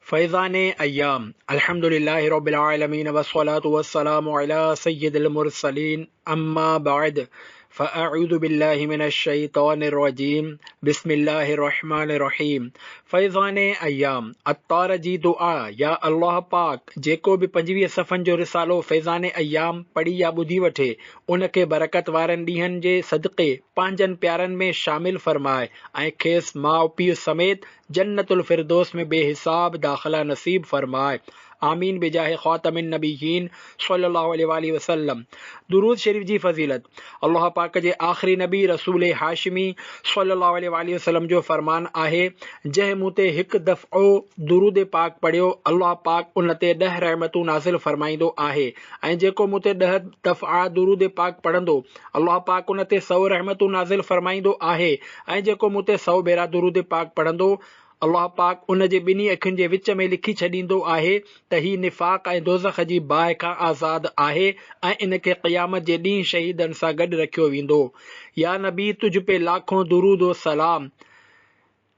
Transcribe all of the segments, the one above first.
فيضان ايام الحمد لله رب العالمين والصلاة والسلام علي سيد المرسلين اما بعد فاعوذ بالله من الشيطان الرجيم بسم الله الرحمن الرحيم فيضان ايام عطار جي دعا يا الله پاڪ جيڪو به پنجويهه صفحن جو رسالو فيضان ايام پڙهي يا ٻڌي وٺي ان کي برڪت وارن ڏينهن جي صدقي پنهنجن پيارن ۾ شامل فرماء ۽ کيس ماء پيء سميت جنت الفردوس ۾ بي حساب داخلا نصيب فرمائي آمين بجاھ خاتم النبيين صلي الله عليه واٰله وسلم درود شريف جي فضيلت الله پاڪ جي آخري نبي رسول هاشمي صلي الله عليه واٰله وسلم جو فرمان آهي جنهن مون تي هڪ دفعو درود پاڪ پڙهيو الله پاڪ ان تي ڏهه رحمتون نازل فرمائيندو آهي ۽ جيڪو مون تي ڏهه دفعا درود پاڪ پڙهندو الله پاڪ ان تي سؤ رحمتون نازل فرمائيندو آهي ۽ جيڪو مون تي سؤ ڀيرا درود پاڪ پڙهندو، الله پاڪ ان جي ٻنهي اکين جي وچ ۾ لکي ڇڏيندو آهي ته هي نفاق ۽ دوزخ جي باهه کان آزاد آهي ۽ ان کي قيامت جي ڏينهن شهيدن سان گڏ رکيو ويندو. يا نبي تجھ پي لاکون درود و سلام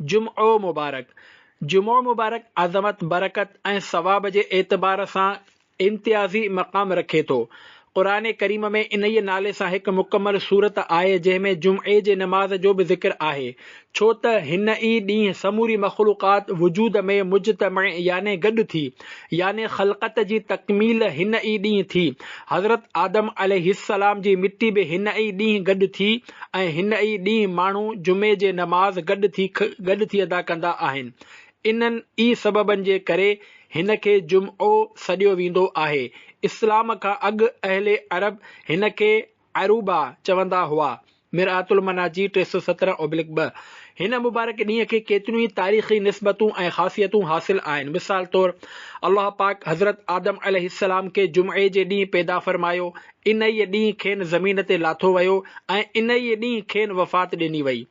جمعو مبارڪ، جمعو مبارڪ عظمت، برڪت ۽ ثواب جي اعتبار سان امتيازي مقام رکي ٿو. قرآن ڪريم ۾ انهيء نالي سان هڪ مڪمل سورت آهي جنهن ۾ جمعي جي نماز جو به ذڪر آهي ڇو ته هن ئي ڏينهن سموري مخلوقات وجود ۾ مجتمع يعني گڏ ٿي يعني خلقت جي تڪميل هن ئي ڏينهن ٿي حضرت آدم عليه السلام جي مٽي به هن ئي ڏينهن گڏ ٿي ۽ هن ئي ڏينهن ماڻهو جمعي جي نماز گڏ ٿي گڏ ٿي ادا ڪندا آهن. انهن ئي سببن جي ڪري هن کي جمعو سڏيو ويندو آهي. اسلام کان اڳ اهل عرب هن کي عروبه چوندا هئا، مرآت المناجي ٽي سؤ سترهن اوبلڪ ٻه. هن مبارڪ ڏينهن کي ڪيتريون ئي تاريخي نسبتون ۽ خاصيتون حاصل آهن. مثال طور الله پاڪ حضرت آدم عليه السلام کي جمعي جي ڏينهن پيدا فرمايو انهيء ڏينهن کين زمين تي لاٿو ويو ۽ انهيء ڏينهن کين وفات ڏني وئي.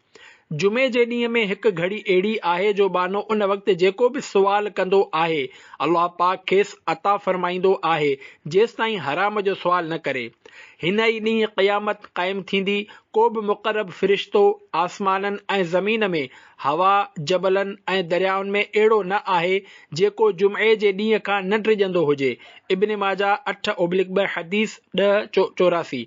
جمعي جي ڏينهن ۾ هڪ گهڙي اهڙي آهي جو ٻانهو ان وقت جيڪو به سوال ڪندو آهي، الله پاڪ کيس عطا فرمائيندو آهي، جيستائين حرام جو سوال نه ڪري. هن ئي ڏينهن قيامت قائم ٿيندي، ڪو به مقرب فرشتو آسمانن ۽ زمين ۾ هوا، جبلن ۽ دريائن ۾ اهڙو نه آهي، جيڪو جمعي جي ڏينهن کان نه ڊڄندو هجي. ابن ماجه اٺ اوبلڪ ٻه حديث ڏهه چو چوراسي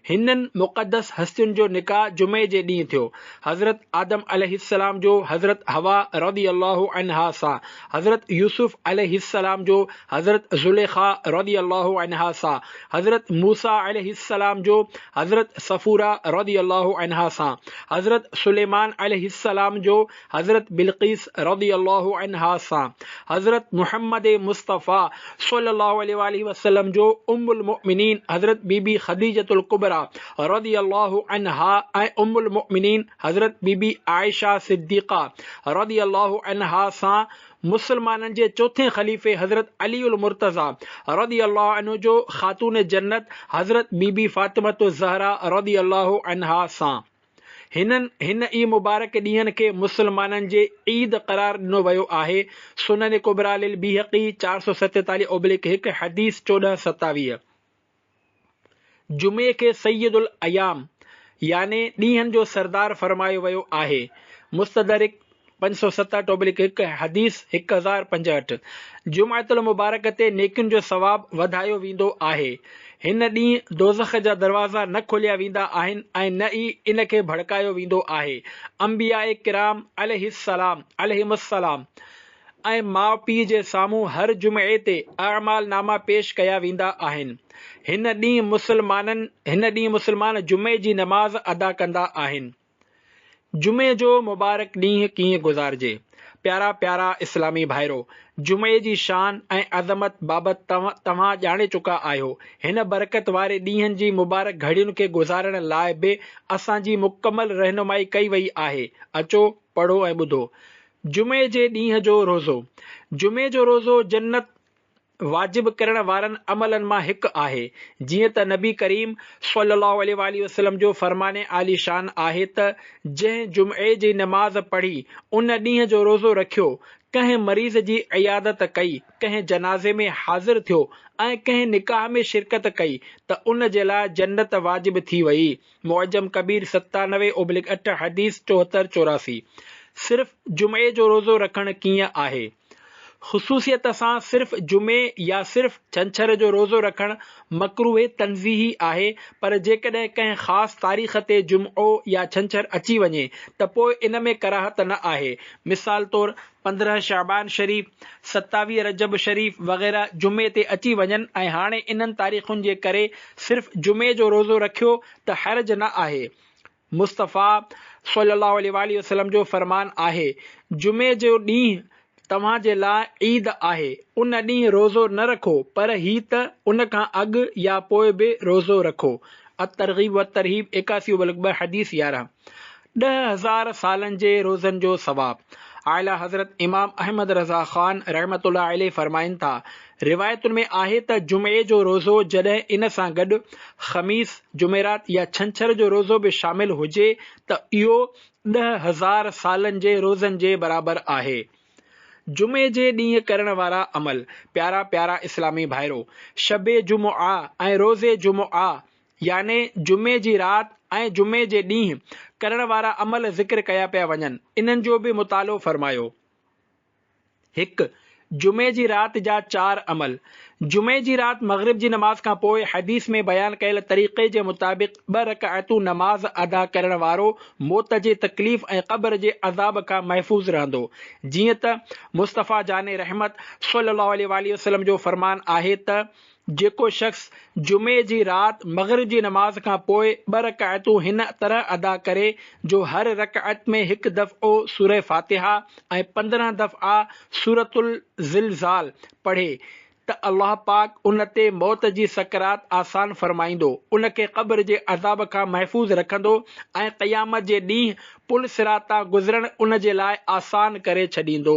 هنن مقدس هستين جو نڪاح جمعي جي ڏينهن ٿيو. حضرت آدم عليه السلام جو حضرت حوا رضي الله عنها سان حضرت يوسف عليه السلام جو حضرت زليخا رضي الله عنها سان، حضرت موسيٰ عليه السلام جو حضرت صفورة رضي الله عنها سان، حضرت سليمان عليه السلام جو حضرت بلقيس رضي الله عنها سان، حضرت محمد مصطفيٰ صلّي الله عليه واٰله وسلّم جو ام المؤمنين حضرت بيبي خديجة الڪبريٰ رضي الله عنها ۽ ام المؤمنين حضرت بي بي عائشه صديقه رضي الله عنها سان مسلمانن جي چوٿين خليفي حضرت علي المرتضيٰ رضي الله عنه جو خاتون جنت حضرت بي بي فاطمة الزهراء رضي الله عنها سان هنن هن ئي مبارڪ ڏينهن کي مسلمانن جي عيد قرار ڏنو ويو آهي سنن ڪبريٰ للبيهقي چار سؤ ستيتاليهه اوبليڪ هڪ حديث چوڏهن ستاويهه جمعي کي سيد الايام يعني ڏينهن جو سردار فرمايو ويو آهي، مستدرڪ پنج سؤ ست ٽوبلڪ هڪ، حديث هڪ هزار پنجهٺ، جمعة المبارڪ تي نيڪين جو ثواب وڌايو ويندو آهي، هن ڏينهن دوزخ جا دروازا نه کوليا ويندا آهن ۽ نه ئي ان کي ڀڙڪايو ويندو آهي، انبياء ڪرام عليه السلام عليهم السلام. ۽ ماء پيء جي سامهون هر جمعي تي اعمال ناما پيش ڪيا ويندا آهن. هن ڏينهن مسلمانن هن ڏينهن مسلمان جمعي جي نماز ادا ڪندا آهن. جمعي جو مبارڪ ڏينهن ڪيئن گذارجي؟ پيارا پيارا اسلامي ڀائرو! جمعي جي شان ۽ عظمت بابت توهان ڄاڻي چڪا آهيو. هن برڪت واري ڏينهن جي مبارڪ گهڙين کي گذارڻ لاء به اسان جي مڪمل رهنمائي ڪئي وئي آهي. اچو، پڙهو ۽ ٻڌو. جمعي جي ڏينهن جو روزو، جمعي جو روزو جنت واجب ڪرڻ وارن عملن مان هڪ آهي، جيئن ته نبي ڪريم صلّي اللّٰه عليه واٰله وسلّم جو فرمان عالي شان آهي ته، جنهن جمعي جي نماز پڙهي، ان ڏينهن جو روزو رکيو، ڪنهن مريض جي عيادت ڪئي، ڪنهن جنازي ۾ حاضر ٿيو ۽ ڪنهن نڪاح ۾ شرڪت ڪئي ته ان جي لاء جنت واجب ٿي وئي. معجم ڪبير ستانوي اوبلڪ اٺ حديث چوهتر چوراسي صرف جمعي جو روزو رکڻ ڪيئن آهي؟ خصوصيت سان صرف جمعي يا صرف ڇنڇر جو روزو رکڻ مڪروه تنزيهي آهي پر جيڪڏهن ڪنهن خاص تاريخ تي جمعو يا ڇنڇر اچي وڃي ته پوء ان ۾ ڪراهت نه آهي مثال طور پندرهن شعبان شريف، ستاويهه رجب شريف وغيره جمعي تي اچي وڃن ۽ هاڻي انهن تاريخن جي ڪري صرف جمعي جو روزو رکيو ته حرج نه آهي. مصطفيٰ صلي الله عليه واٰله وسلم جو فرمان آهي، جمعي جو ڏينهن توهان جي لاء عيد آهي، ان ڏينهن روزو نه رکو پر هي ته ان کان اڳ يا پوء به روزو رکو. الترغيب والترهيب ايڪاسيون بلڪ ٻه حديث يارهن. ڏهه هزار سالن جي روزن جو ثواب. اعليٰ حضرت امام احمد رضه خان رحمة الله عليه فرمائن ٿا، روايتن ۾ آهي ته جمعي جو روزو جڏهن ان سان گڏ خميس، جمعرات يا ڇنڇر جو روزو به شامل هجي ته اهو ڏهه هزار سالن جي روزن جي برابر آهي. جمعي جي ڏينهن ڪرڻ وارا عمل. پيارا پيارا اسلامي ڀائرو! شب جمعه ۽ روز جمعه يعني جمعي جي رات ۽ جمعي جي ڏينهن ڪرڻ وارا عمل ذڪر ڪيا پيا وڃن، انهن جو به مطالعو فرمايو. هڪ، جمعي جي رات جا چار عمل، جمعي جي رات مغرب جي نماز کان پوء حديث ۾ بيان ڪيل طريقي جي مطابق ٻه رڪعتون نماز ادا ڪرڻ وارو موت جي تڪليف ۽ قبر جي عذاب کان محفوظ رهندو، جيئن ته مصطفيٰ جاني رحمت صلّي اللّٰه عليه واٰله وسلّم جو فرمان آهي ته، جيڪو شخص جمعي جي رات مغرب جي نماز کان پوء ٻه رڪعتون هن طرح ادا ڪري جو هر رڪعت ۾ هڪ دفعو سوره فاتحه ۽ پندرهن دفعا سورة الزلزال پڙهي ته الله پاڪ ان تي موت جي سڪرات آسان فرمائيندو، ان کي قبر جي عذاب کان محفوظ رکندو ۽ قيامت جي ڏينهن پل صراط تان گذرڻ ان جي لاء آسان ڪري ڇڏيندو.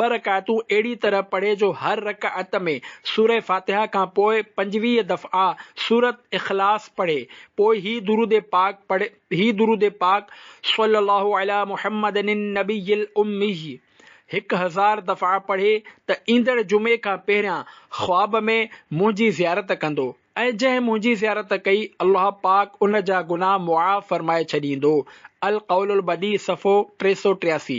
ٻه رڪعتون اهڙي طرح پڙهي جو هر رڪعت ۾ سوره فاتحه کان پوء پنجويهه دفعا سورة اخلاص پڙهي، پوء هي درود پاڪ پڙهي، هي درود پاڪ، صلّي الله عليٰ محمّد النّبي الامّي، هڪ هزار دفعا پڙهي ته ايندڙ جمعي کان پهريان خواب ۾ منهنجي زيارت ڪندو ۽ جنهن منهنجي زيارت ڪئي الله پاڪ ان جا گناهه معاف فرمائي ڇڏيندو، القول البديع صفحو ٽي سؤ ٽياسي.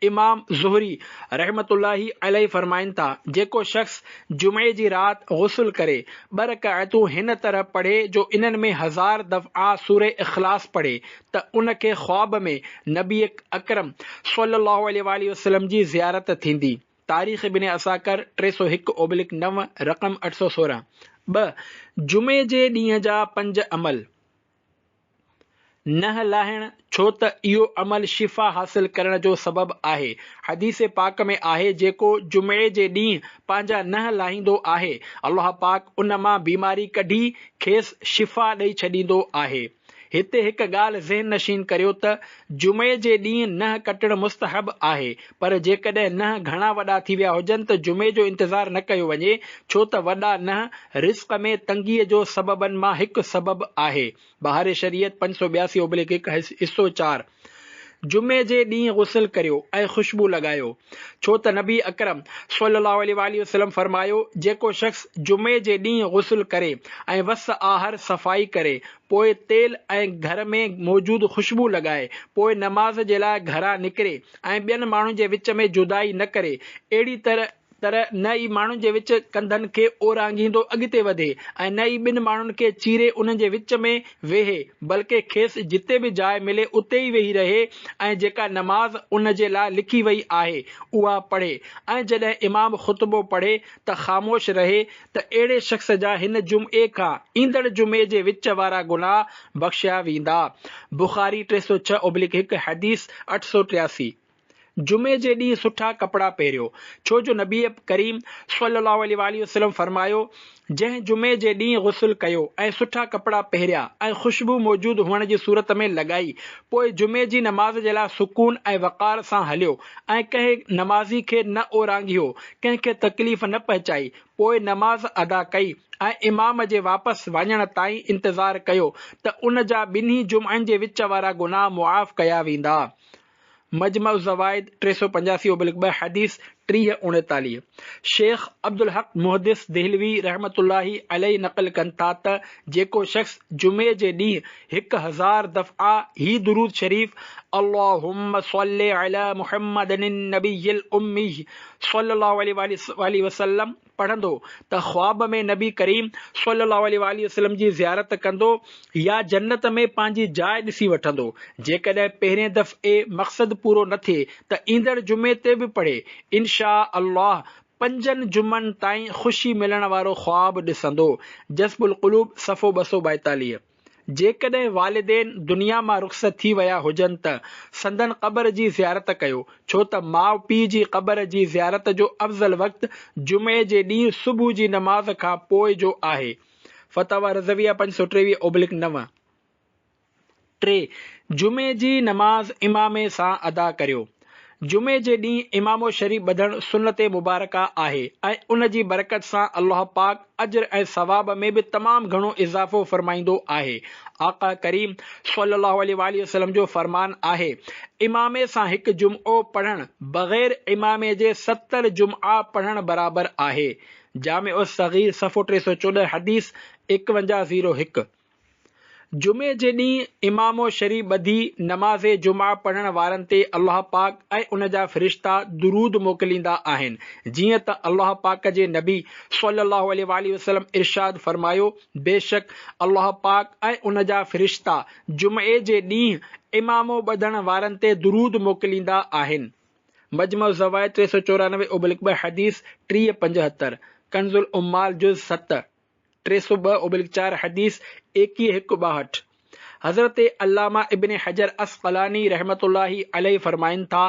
امام زهري رحمة الله عليه فرمائن ٿا، جيڪو شخص جمعي جي رات غسل ڪري، ٻه رڪعتون هن طرح پڙهي جو انهن ۾ هزار دفعا سورة اخلاص پڙهي ته ان کي خواب ۾ نبي اڪرم صلي الله عليه واٰله وسلم جي زيارت ٿيندي. تاريخ ابن عساڪر ٽي سؤ هڪ اوبلڪ نو، رقم اٺ سؤ سورهن. ٻه، جمعي جي ڏينهن جا پنج عمل. ننهن لاهڻ، ڇو ته اهو عمل شفا حاصل ڪرڻ جو سبب آهي. حديث پاڪ ۾ آهي، جيڪو جمعي جي ڏينهن پنهنجا ننهن لاهيندو آهي، الله پاڪ ان مان بيماري ڪڍي کيس شفا ڏئي ڇڏيندو آهي. هتي هڪ ڳالهه ذهن نشين ڪريو ته جمعي جي ڏينهن ننهن ڪٽڻ مستحب آهي، پر جيڪڏهن ننهن گهڻا وڏا ٿي ويا هجن ته جمعي جو انتظار نه ڪيو وڃي، ڇو ته وڏا ننهن رزق ۾ تنگيء جو سببن مان هڪ سبب آهي. بهار شريعت پنج سؤ ٻياسي اوبليڪ هڪ، حصو چار، جمعي جي ڏينهن غسل ڪريو ۽ خوشبو لڳايو، ڇو ته نبي اڪرم صلي الله عليه واٰله وسلم فرمايو، جيڪو شخص جمعي جي ڏينهن غسل ڪري ۽ وس آهر صفائي ڪري، پوء تيل ۽ گهر ۾ موجود خوشبو لڳائي، پوء نماز جي لاء گهران نڪري ۽ ٻين ماڻهن جي وچ ۾ جدائي نه ڪري، اهڙي طرح طرح نه ئي ماڻهن جي وچ ڪنڌن کي اورانگهيندو اڳتي وڌي ۽ نه ئي ٻن ماڻهن کي چيري انهن جي وچ ۾ ويهي، بلڪه کيس جتي به جاء ملي اتي ئي ويهي رهي ۽ جيڪا نماز ان جي لاء لکي وئي آهي اها پڙهي ۽ جڏهن امام خطبو پڙهي ته خاموش رهي ته اهڙي شخص جا هن جمعي کان ايندڙ جمعي جي وچ وارا گناهه بخشيا ويندا. بخاري ٽي سؤ ڇهه اوبليڪ هڪ، حديث اٺ سؤ ٽياسي، جمعي جي ڏينهن سٺا ڪپڙا پهريو، ڇو جو نبي ڪريم صلي الله عليه واٰله وسلم فرمايو، جنهن جمعي جي ڏينهن غسل ڪيو ۽ سٺا ڪپڙا پهريا ۽ خوشبو موجود هئڻ جي صورت ۾ لڳائي، پوء جمعي جي نماز جي لاء سڪون ۽ وقار سان هليو ۽ ڪنهن نمازي کي نه اورانگهيو، ڪنهن کي تڪليف نه پهچائي، پوء نماز ادا ڪئي ۽ امام جي واپس وڃڻ تائين انتظار ڪيو ته ان جا ٻنهي جمعن جي وچ وارا گناهه معاف ڪيا ويندا. مجمع الزوائد ٽي سؤ پنجاسي اوبلڪ ٻه، حديث ٽيهه اڻيتاليهه. شيخ عبدالحق محدث دهلوي رحمة الله عليه نقل ڪن ٿا ته جيڪو شخص جمعي جي ڏينهن، هڪ هزار دفعا هي درود شريف، اللهم صل علي محمد النبي الامي صلي الله عليه واٰله وسلم، پڙهندو ته خواب ۾ نبي ڪريم صلي الله عليه واٰله وسلم جي زيارت ڪندو يا جنت ۾ پنهنجي جاء ڏسي وٺندو. جيڪڏهن پهرين دفعي مقصد پورو نه ٿئي ته ايندڙ جمعي تي به پڙهي، انشاء الله پنجن جمعن تائين خوشي ملڻ وارو خواب ڏسندو. جذب القلوب صفحو ٻه سؤ ٻائيتاليهه. جيڪڏهن والدين دنيا مان رخصت ٿي ويا هجن ته سندن قبر جي زيارت ڪيو، ڇو ته ماء پيء جي قبر جي زيارت جو افضل وقت جمعي جي ڏينهن صبح جي نماز کان پوء جو آهي، فتاويٰ رضويه پنج سؤ ٽيويهه اوبلڪ نو. ٽي، جمعي جي نماز امامي سان ادا ڪريو. جمعي جي ڏينهن امامو شريف ٻڌڻ سنت مبارڪه آهي ۽ ان جي برڪت سان الله پاڪ اجر ۽ ثواب ۾ به تمام گهڻو اضافو فرمائيندو آهي آقا ڪريم صلي الله عليه واٰله وسلم جو فرمان آهي امامي سان هڪ جمعو پڙهڻ بغير امامي جي ستر جمعا پڙهڻ برابر آهي جامع الصغير صفحو ٽي سؤ چوڏهن حديث ايڪونجاهه زيرو هڪ جمعي جي ڏينهن امام شريف ٻڌي نماز جمعه پڙهڻ وارن تي الله پاڪ ۽ ان جا فرشتا درود موڪليندا آهن جيئن ته الله پاڪ جي نبي صلي الله عليه واٰله وسلم ارشاد فرمايو بيشڪ الله پاڪ ۽ ان جا فرشتا جمعي جي ڏينهن امام ٻڌڻ وارن تي درود موڪليندا آهن مجمع الزوائد ٽي سؤ چورانوي ابلڪ ٻه حديث ٽيهه پنجهتر ڪنز العمال جز ست ٽي سؤ ٻه اوبلڪ چار حديث ايڪيهه هڪ ٻاهٺ حضرت علامه ابن حجر عسقلاني رحمة الله عليه فرمائن ٿا،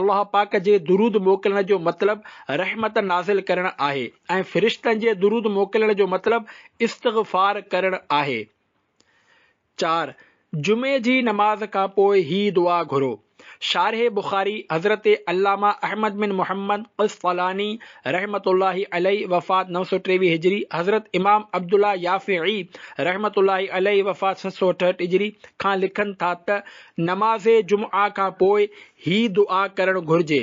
الله پاڪ جي درود موڪلڻ جو مطلب رحمت نازل ڪرڻ آهي ۽ فرشتن جي درود موڪلڻ جو مطلب استغفار ڪرڻ آهي. چار، جمعي جي نماز کان پوء هي دعا گهرو. شارح بخاري حضرت علامه احمد بن محمد قسطلاني رحمة الله عليه وفات نو سؤ ٽيويهه هجري، حضرت امام عبدالله يافعي رحمة الله عليه وفات ست سؤ اٺهٺ هجري، کان لکن ٿا ته نماز جمعه کان پوء هي دعا ڪرڻ گهرجي.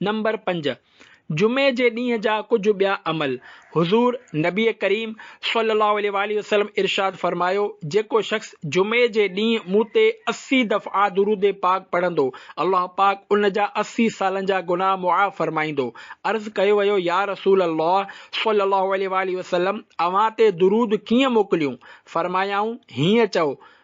نمبر پنج، جمعي جي ڏينهن جا ڪجهه ٻيا عمل، حضور نبي ڪريم صلي الله عليه واٰله وسلم ارشاد فرمايو، جيڪو شخص جمعي جي ڏينهن مون تي اسي دفعا درود پاڪ پڙهندو، الله پاڪ ان جا اسي سالن جا گناهه معاف فرمائيندو. عرض ڪيو ويو، يا رسول الله صلي الله عليه واٰله وسلم اوهان تي درود ڪيئن موڪليون؟ فرمايائون، هيئن چئو،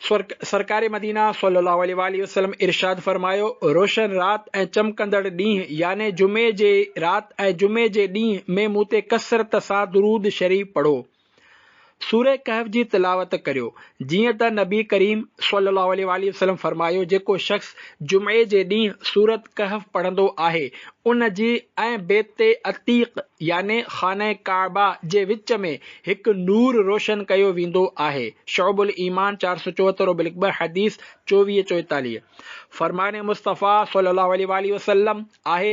سرڪار مدينه صلّي اللّٰه عليه واٰله وسلّم ارشاد فرمايو، روشن رات ۽ چمڪندڙ ڏينهن يعني جمعي جي رات ۽ جمعي جي ڏينهن ۾ مون تي ڪثرت سان درود شريف پڙهو. سوره ڪهف جي تلاوت ڪريو. جيئن ته نبي ڪريم صلّي اللّٰه عليه واٰله وسلّم فرمايو جيڪو شخص جمعي جي ڏينهن سورت ڪهف پڙهندو آهي ان جي ۽ بيت عتيق يعني خانه ڪعبه جي وچ ۾ هڪ نور روشن ڪيو ويندو آهي، شعب الايمان چار سؤ چوهتر و بلڪبر حديث چوويهه چوئيتاليهه، فرمان مصطفيٰ صلي الله عليه واٰله وسلم آهي،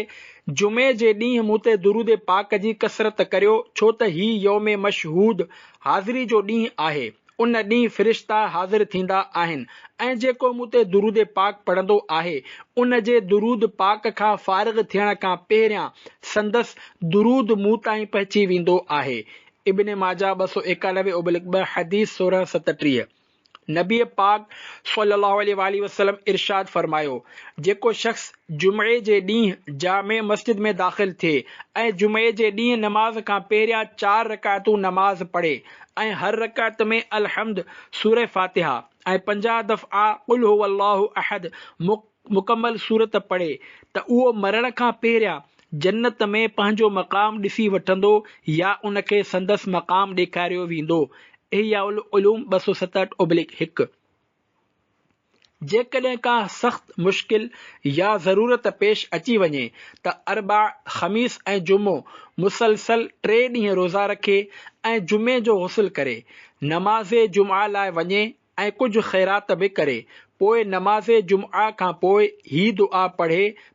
جمعي جي ڏينهن مون تي درود پاڪ جي ڪثرت ڪريو، ڇو ته هي يوم مشهود، حاضري جو ڏينهن، آهي، ان ڏينهن فرشتا حاضر ٿيندا آهن، ۽ جيڪو مون تي درود پاڪ پڙهندو آهي ان جي درود پاڪ کان فارغ ٿيڻ کان پهريان سندس درود مون تائين پهچي ويندو آهي ابن ماجه ٻه سؤ ايڪانوي اوبلڪ ٻه حديث سورهن ستٽيهه نبي پاڪ صلي الله عليه واٰله وسلم ارشاد فرمايو جيڪو شخص جمعي جي ڏينهن جامع مسجد ۾ داخل ٿئي ۽ جمعي جي ڏينهن نماز کان پهريان چار رڪعتون نماز پڙهي ۽ هر رڪعت ۾ الحمد، سورة فاتحه ۽ پنجاهه دفعا قل هو الله احد مڪمل سورت پڙهي ته اهو مرڻ کان پهريان جنت ۾ پنهنجو مقام ڏسي وٺندو يا ان کي سندس مقام ڏيکاريو ويندو، احياء العلوم ٻه سؤ ستهٺ اوبلڪ هڪ. جيڪڏهن ڪا سخت مشڪل يا ضرورت پيش اچي وڃي ته اربع، خميس ۽ جمعو مسلسل ٽي ڏينهن روزا رکي ۽ جمعي جو غسل ڪري، نماز جمعه لاء وڃي ۽ ڪجهه خيرات به ڪري، پوء نماز جمعه کان پوء هي دعا پڙهي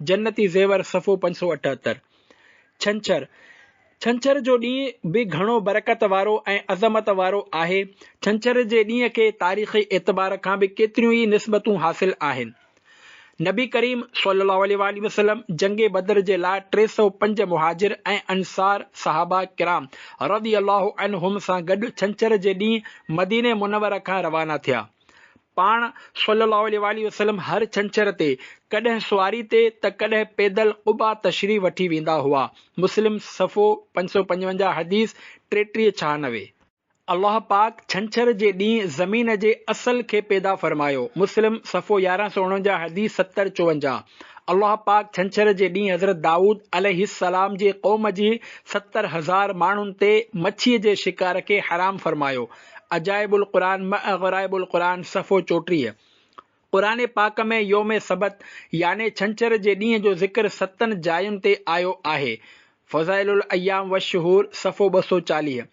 جنتي زيور صفحو پنج سؤ اٺهتر. ڇنڇر، ڇنڇر جو ڏينهن به گهڻو برڪت وارو ۽ عظمت وارو آهي. ڇنڇر جي ڏينهن کي تاريخي اعتبار کان به ڪيتريون ئي نسبتون حاصل آهن. نبي ڪريم صلي الله عليه واٰله وسلم جنگ بدر جي لاء ٽي سؤ پنج مهاجر ۽ انصار صحابه ڪرام رضي الله عنهم سان گڏ ڇنڇر جي ڏينهن مدينه منوره کان روانا ٿيا. پاڻ صلّي اللّٰه عليه واٰله وسلّم هر ڇنڇر تي ڪڏهن سواري تي ته ڪڏهن پيدل قباء تشريف وٺي ويندا هئا، مسلم صفحو پنج سؤ پنجونجاهه حديث ٽيٽيهه ڇهانوي. الله پاڪ ڇنڇر جي ڏينهن زمين جي اصل کي پيدا فرمايو، مسلم صفحو يارهن سؤ اڻونجاهه حديث ستر چوونجاهه. الله پاڪ ڇنڇر جي ڏينهن حضرت دائود عليه السّلام جي قوم جي ستر هزار ماڻهن تي مڇيء جي شڪار کي حرام فرمايو، عجائب القرآن مع غرائب القرآن صفحو چوٽيهه قرآن پاڪ ۾ يوم سبت يعني ڇنڇر جي ڏينهن جو ذڪر ستن جاين تي آيو آهي، فضائل الايام والشهور صفحو ٻه سؤ چاليهه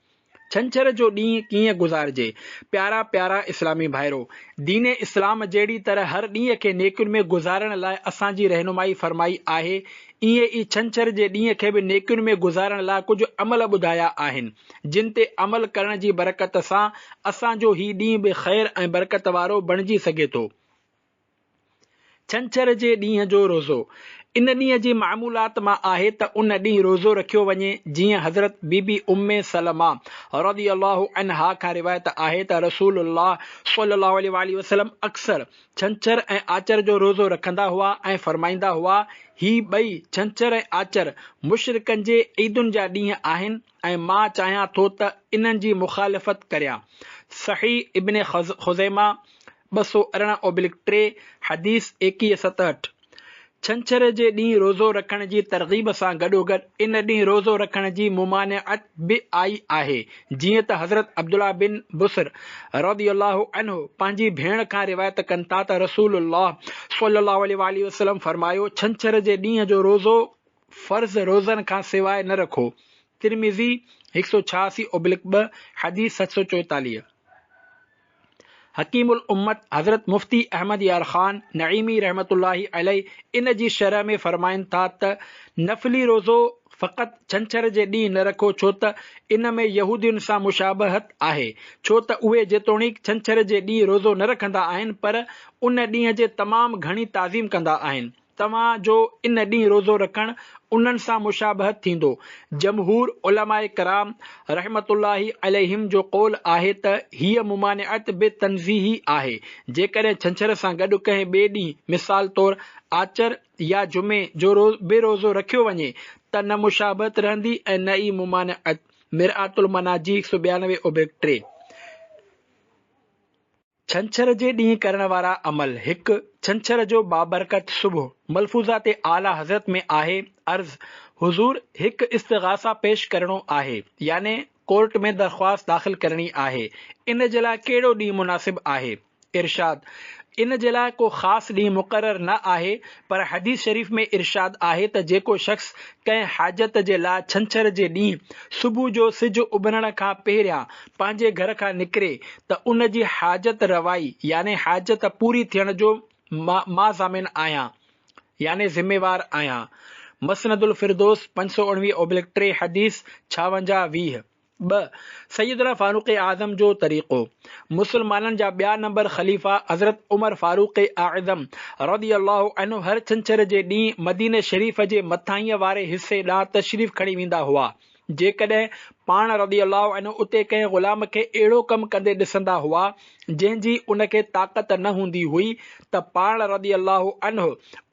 ڇنڇر جو ڏينهن ڪيئن گذارجي؟ پيارا پيارا اسلامي ڀائرو! دين اسلام جهڙي طرح هر ڏينهن کي نيڪين ۾ گذارڻ لاء اسان جي رهنمائي فرمائي آهي، ايئن ئي ڇنڇر جي ڏينهن کي به نيڪين ۾ گذارڻ لاء ڪجهه عمل ٻڌايا آهن. جن تي عمل ڪرڻ جي برڪت سان اسان جو هي ڏينهن به خير ۽ برڪت وارو بڻجي سگهي ٿو. ڇنڇر جي ڏينهن جو روزو، ان ڏينهن جي معمولات مان آهي ته ان ڏينهن روزو رکيو وڃي، جيئن حضرت بي بي ام سلمه رضي الله عنها کان روايت آهي ته رسول الله صلي الله عليه واٰله وسلم اڪثر ڇنڇر ۽ آچر جو روزو رکندا هئا ۽ فرمائيندا هئا، هي ٻئي، ڇنڇر ۽ آچر، مشرڪن جي عيدن جا ڏينهن آهن ۽ مان چاهيان ٿو ته انهن جي مخالفت ڪريان. صحيح ابن خزيمه، ٻه سؤ ارڙهن اوبلڪ ٽي، حديث ايڪيهه ستهٺ. ڇنڇر جي ڏينهن روزو رکڻ جي ترغيب سان گڏوگڏ ان ڏينهن روزو رکڻ جي ممانعت به آئي آهي، جيئن ته حضرت عبدالله بن بصر رضي الله عنه پنهنجي ڀيڻ کان روايت ڪن ٿا ته رسول الله صلي الله عليه واٰله وسلم فرمايو، ڇنڇر جي ڏينهن جو روزو فرض روزن کان سواء نه رکو، ترمذي هڪ سؤ ڇهاسي اوبلڪ ٻه، حديث ست سؤ چوئيتاليهه. حڪيم الامت حضرت مفتي احمد يار خان نعيمي رحمة الله عليه ان جي شرح ۾ فرمائن ٿا ته، نفلي روزو فقط ڇنڇر جي ڏينهن نه رکو ڇو ته ان ۾ يهودين سان مشابهت آهي ڇو ته اهي جيتوڻيڪ ڇنڇر جي ڏينهن روزو نه رکندا آهن پر ان ڏينهن جي تمام گهڻي تعظيم ڪندا آهن. توهان جو ان ڏينهن روزو رکڻ انهن سان مشابهت ٿيندو. جمهور علماء ڪرام رحمة الله عليهم جو قول آهي ته هيء ممانعت به تنزيهي آهي، جيڪڏهن ڇنڇر سان گڏ ڪنهن ٻئي ڏينهن مثال طور آچر يا جمعي جو به روزو رکيو وڃي ته نه مشابهت رهندي ۽ نه ئي ممانعت، مرآة المناجي هڪ سؤ ٻيانوي اوبلڳ ٽي. ڇنڇر جي ڏينهن ڪرڻ وارا عمل هڪ، ڇنڇر جو بابرڪت صبح، ملفوظات اعليٰ حضرت ۾ آهي، عرض، حضور! هڪ استغاثه پيش ڪرڻو آهي، يعني ڪورٽ ۾ درخواست داخل ڪرڻي آهي، ان جي لاء ڪهڙو ڏينهن مناسب آهي؟ ارشاد، ان جي لاء ڪو خاص ڏينهن مقرر نه آهي، پر حديث شريف ۾ ارشاد آهي ته جيڪو شخص ڪنهن حاجت جي لاء ڇنڇر جي ڏينهن صبح جو سج اڀرڻ کان پهريان پنهنجي گهر کان نڪري ته ان جي حاجت روائي يعني حاجت پوري ٿيڻ جو مان ضامن آهيان يعني ذميوار آهيان مسندالفردوس پنج سؤ اڻويهه اوبلڪ ٽي حديث ڇاونجاهه، ويهه. ٻه، سيدنا فاروق اعظم جو طريقو، مسلمانن جا ٻيا نمبر خليفا حضرت عمر فاروق اعظم رضي الله عنه هر ڇنڇر جي ڏينهن مديني شريف جي مٿاهينء واري حصي ڏانهن تشريف کڻي ويندا هئا جيڪڏهن پاڻ رضي الله عنه اتي ڪنهن غلام کي اهڙو ڪم ڪندي ڏسندا هئا جنهن جي ان کي طاقت نه هوندي هئي ته پاڻ رضي الله عنه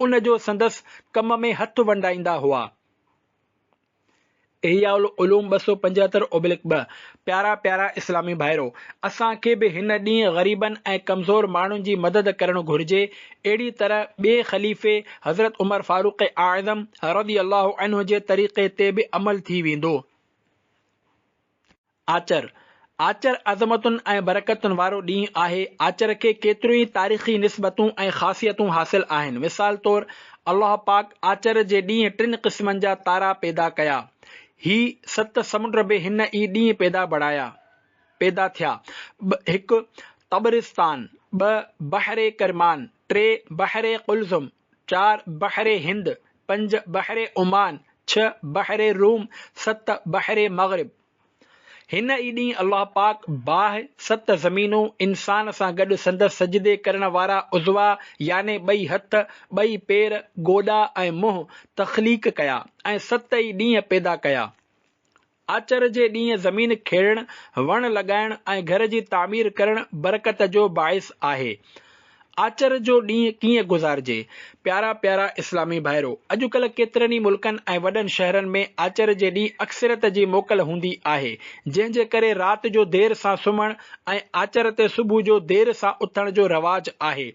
ان جو سندس ڪم ۾ هٿ ونڊائيندا هئا. احياء العلوم ٻه سؤ پنجهتر اوبلڪ ٻه، پيارا پيارا اسلامي ڀائرو! اسان کي به هن ڏينهن غريبن ۽ ڪمزور ماڻهن جي مدد ڪرڻ گهرجي، اهڙي طرح ٻئي خليفي حضرت عمر فاروق اعظم رضي الله عنه جي طريقي تي به عمل ٿي ويندو. آچر، آچر عظمتن ۽ برڪتن وارو ڏينهن آهي، آچر کي ڪيتريون ئي تاريخي نسبتون ۽ خاصيتون حاصل آهن، مثال طور الله پاڪ آچر جي ڏينهن ٽن قسمن جا تارا پيدا ڪيا، هي ست سمنڊ به هن ئي ڏينهن پيدا بڻايا، پيدا ٿيا، ٻه، هڪ، طبرستان، ٻه، بحر ڪرمان، ٽي، بحر قلزم، چار بحر هند، پنج بحر عمان، ڇهه بحر روم، ست بحر مغرب. هن ئي ڏينهن الله پاڪ باهه، ست زمينون، انسان سان گڏ سندس سجدي ڪرڻ وارا عضوا يعني ٻئي هٿ، ٻئي پير، گوڏا ۽ منهن تخليق ڪيا ۽ ست ئي ڏينهن پيدا ڪيا. آچر جي ڏينهن زمين کيڙڻ، وڻ لڳائڻ ۽ گهر جي تعمير ڪرڻ برڪت جو باعث آهي. آچر جو ڏينهن ڪيئن گذارجي؟ پيارا پيارا اسلامي ڀائرو! اڄڪلهه ڪيترن ئي ملڪن ۽ وڏن شهرن ۾ آچر جي ڏينهن اڪثريت جي موڪل هوندي آهي، جنهن جي ڪري رات جو دير سان سمهڻ ۽ آچر تي صبح جو دير سان اٿڻ جو رواج آهي.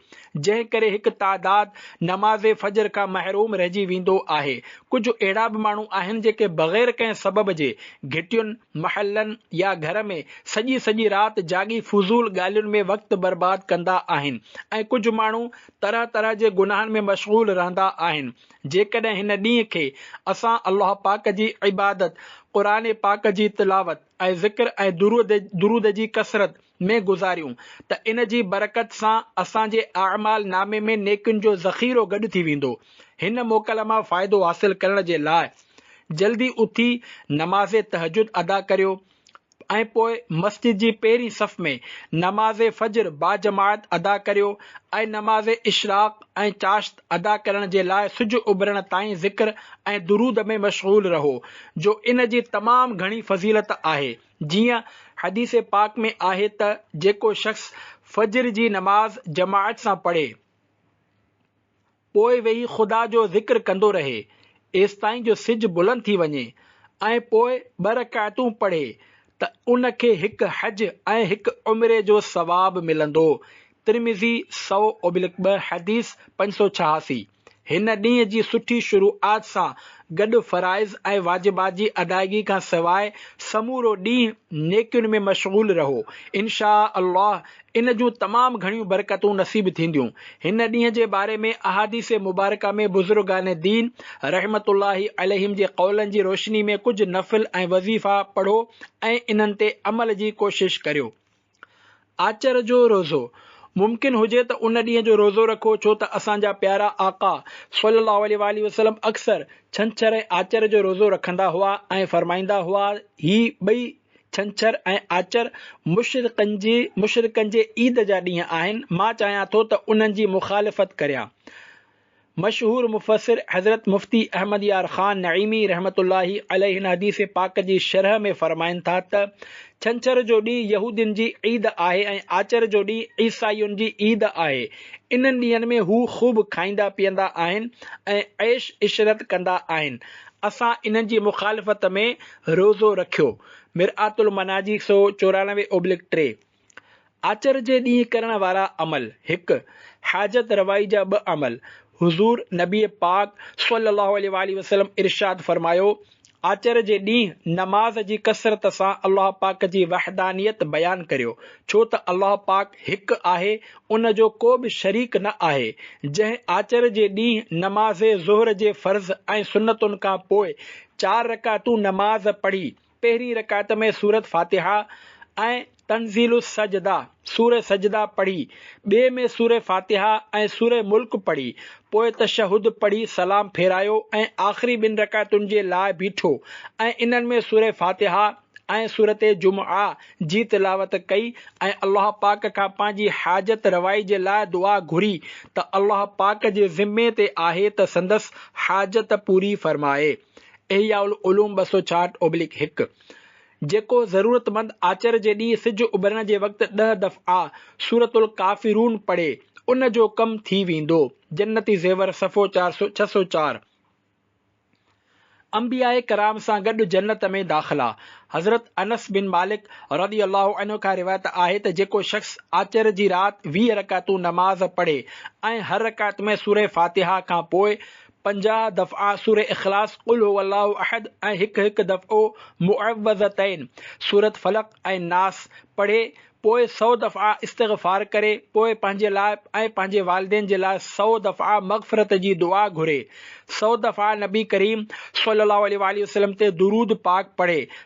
جنهن ڪري هڪ تعداد نماز فجر کان محروم رهجي ويندو آهي. ڪجهه اهڙا به ماڻهو آهن جيڪي بغير ڪنهن سبب جي گهٽين، محلن يا گهر ۾ سڄي سڄي رات جاڳي فضول ڳالهين ۾ وقت برباد ڪندا آهن ۽ ڪجهه ماڻهو طرح طرح جي گناهن ۾ مشغول رهندا آهن جيڪڏهن هن ڏينهن کي اسان الله پاڪ جي عبادت، قرآن پاڪ جي تلاوت ۽ ذڪر ۽ درود جي ڪثرت، ۾ گذاريون ته ان جي برڪت سان اسان جي اعمال نامي ۾ نيڪين جو ذخيرو گڏ ٿي ويندو. هن موڪل مان فائدو حاصل ڪرڻ جي لاء جلدي اٿي نماز تهجد ادا ڪريو ۽ پوء مسجد جي پهرين صف ۾ نماز فجر باجماعت ادا ڪريو ۽ نماز اشراق ۽ چاشت ادا ڪرڻ جي لاء سج اڀرڻ تائين ذڪر ۽ درود ۾ مشغول رهو جو ان جي تمام گهڻي فضيلت آهي. جيئن حديث پاڪ ۾ آهي ته جيڪو شخص فجر جي نماز جماعت سان پڙهي پوء ويهي خدا جو ذڪر ڪندو رهي ايستائين جو سج بلند ٿي وڃي ۽ پوء ٻه رڪعتون پڙهي ته ان کي هڪ حج ۽ هڪ عمري جو ثواب ملندو، ترمذي سؤ اوبلڪ ٻه حديث پنج سؤ ڇهاسي. هن ڏينهن جي سٺي شروعات سان گڏ فرائض ۽ واجبات جي ادائيگي کان سواء سمورو ڏينهن نيڪين ۾ مشغول رهو، انشاء الله ان جون تمام گهڻيون برڪتون نصيب ٿينديون. هن ڏينهن جي باري ۾ احاديث مبارڪه ۾ بزرگان دين رحمة الله عليهم جي قولن جي روشني ۾ ڪجهه نفل ۽ وظيفا پڙهو ۽ انهن تي عمل جي ڪوشش ڪريو. آچر جو روزو، ممڪن هجي ته ان ڏينهن جو روزو رکو ڇو ته اسان جا پيارا آقا صلّي اللّٰه عليه واٰله وسلّم اڪثر ڇنڇر ۽ آچر جو روزو رکندا هئا ۽ فرمائيندا هئا هي ٻئي ڇنڇر ۽ آچر مشرڪن جي مشرڪن جي عيد جا ڏينهن آهن مان چاهيان ٿو ته انهن جي مخالفت ڪريان مشهور مفسر حضرت مفتي احمد يار خان نعيمي رحمة الله عليه هن حديث پاڪ جي شرح ۾ فرمائن ٿا ته، ڇنڇر جو ڏينهن يهودين جي عيد آهي ۽ آچر جو ڏينهن عيسائين جي عيد آهي. انهن ڏينهن ۾ هو خوب کائيندا پيئندا آهن ۽ عيش عشرت ڪندا آهن. اسان انهن جي مخالفت ۾ روزو رکيو. مرآت المناجي سؤ چورانوي اوبلڪ ٽي. آچر جي ڏينهن ڪرڻ وارا عمل، هڪ، حاجت روائي جا ٻه عمل، حضور نبي پاڪ صلّي اللّٰه عليه واٰله وسلّم ارشاد فرمايو، آچر جي ڏينهن نماز جي ڪثرت سان الله پاڪ جي وحدانيت بيان ڪريو، ڇو ته الله پاڪ هڪ آهي، ان جو ڪو به شريڪ نه آهي، جنهن آچر جي ڏينهن نماز ظهر جي فرض ۽ سنتن کان پوء چار رڪعتون نماز پڙهي، پهرين رڪعت ۾ سورة فاتحه ۽ تنزيل السجده، سورة سجده، پڙهي، ٻئي ۾ سورة فاتحه ۽ سورة ملڪ پڙهي، پوء تشهد پڙهي سلام ڦيرايو ۽ آخري ٻن رڪعتن جي لاء بيٺو ۽ انهن ۾ سورة فاتحه ۽ سورة جمعه جي تلاوت ڪئي ۽ الله پاڪ کان پنهنجي حاجت روائي جي لاء دعا گهري ته الله پاڪ جي ذمي تي آهي ته سندس حاجت پوري فرمائي. احياء العلوم ٻه سؤ چاهٺ اوبليڪ هڪ، جيڪو ضرورتمند آچر جي ڏينهن سج اڀرڻ جي وقت ڏهه دفعا سورة الڪافرون پڙهي، ان جو ڪم ٿي ويندو، جنتي زيور صفحو چار سؤ ڇهه سؤ چار. انبياء ڪرام سان گڏ جنت ۾ داخلا، حضرت انس بن مالڪ رضي الله عنه کان روايت آهي ته جيڪو شخص آچر جي رات ويهه رڪعتون نماز پڙهي ۽ هر رڪعت ۾ سورة فاتحه کان پوء پنجاهه دفعا سوره اخلاص، قل هو الله احد ۽ هڪ هڪ دفعو معوذتين، سورة فلق ۽ ناس، پڙهي، پوء سؤ دفعا استغفار ڪري، پوء پنهنجي لاء ۽ پنهنجي والدين جي لاء سؤ دفعا مغفرت جي دعا گهري، سؤ دفعا نبي ڪريم صلي الله عليه واٰله وسلم تي درود پاڪ پڙهي،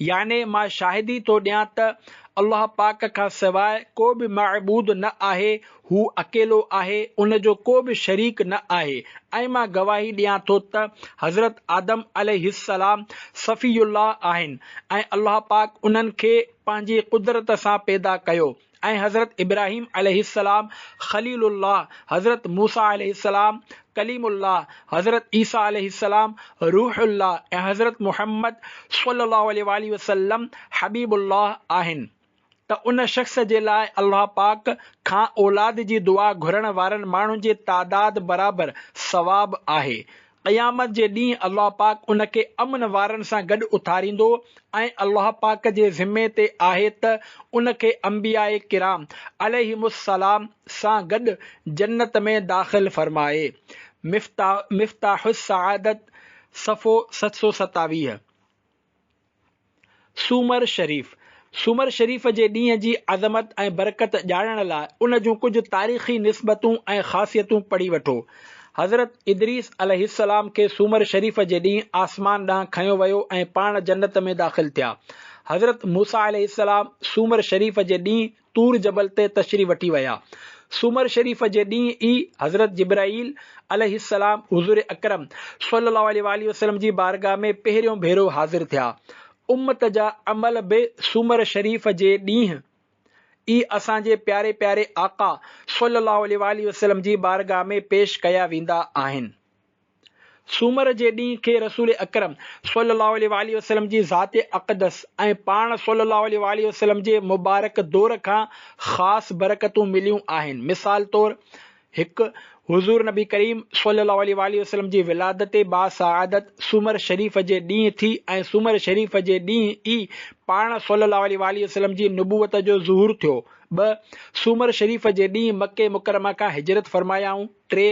يعني مان شاهدي ٿو ڏيان ته الله پاڪ کان سواء ڪو به معبود نه آهي، هو اڪيلو آهي، ان جو ڪو به شريڪ نه آهي ۽ مان گواهي ڏيان ٿو ته حضرت آدم عليه السلام صفي الله آهن ۽ الله پاڪ انهن کي پنهنجي قدرت سان پيدا ڪيو. ۽ حضرت ابراهيم عليه السلام خليل الله، حضرت موسيٰ عليه السلام ڪليم الله، حضرت عيسيٰ عليه السلام روح الله ۽ حضرت محمد صلّي الله عليه واٰله وسلّم حبيب الله آهن ته ان شخص جي لاء الله پاڪ کان اولاد جي دعا گهرڻ وارن ماڻهن جي تعداد برابر ثواب آهي قيامت جي ڏينهن الله پاڪ ان کي امن وارن سان گڏ اٿاريندو ۽ الله پاڪ جي ذمي تي آهي ته ان کي انبياء ڪرام عليهم السلام سان گڏ جنت ۾ داخل فرمائي. مفتاح مفتاح السعادت، صفحو ست سؤ ستاويهه. سومر شريف، سومر شريف جي ڏينهن جي عظمت ۽ برڪت ڄاڻڻ لاء ان جون ڪجهه تاريخي نسبتون ۽ خاصيتون پڙهي وٺو. حضرت ادريس عليه السلام کي سومر شريف جي ڏينهن آسمان ڏانهن کنيو ويو ۽ پاڻ جنت ۾ داخل ٿيا. حضرت موسيٰ عليه السلام سومر شريف جي ڏينهن طور جبل تي تشريف وٺي ويا. سومر شريف جي ڏينهن ئي حضرت جبرائيل عليه السلام حضور اڪرم صلي الله عليه واٰله وسلم جي بارگاھ ۾ پهريون ڀيرو حاضر ٿيا. امت جا عمل به سومر شريف جي ڏينهن ئي اسان جي پياري پياري آقا صلي الله عليه واٰله وسلم جي بارگاھ ۾ پيش ڪيا ويندا آهن. سومر جي ڏينهن کي رسول اڪرم صلي الله عليه واٰله وسلم جي ذات اقدس ۽ پاڻ صلي الله عليه واٰله وسلم جي مبارڪ دور کان خاص برڪتون مليون آهن مثال طور، هڪ، حضور نبي ڪريم صلي الله عليه واٰله وسلم جي ولادت باسعادت سومر شريف جي ڏينهن ٿي ۽ سومر شريف جي ڏينهن ئي پاڻ صلي الله عليه واٰله وسلم جي نبوت جو ظهور ٿيو، ٻه، سومر شريف جي ڏينهن مڪي مڪرمه کان هجرت فرمايائون. ٽي،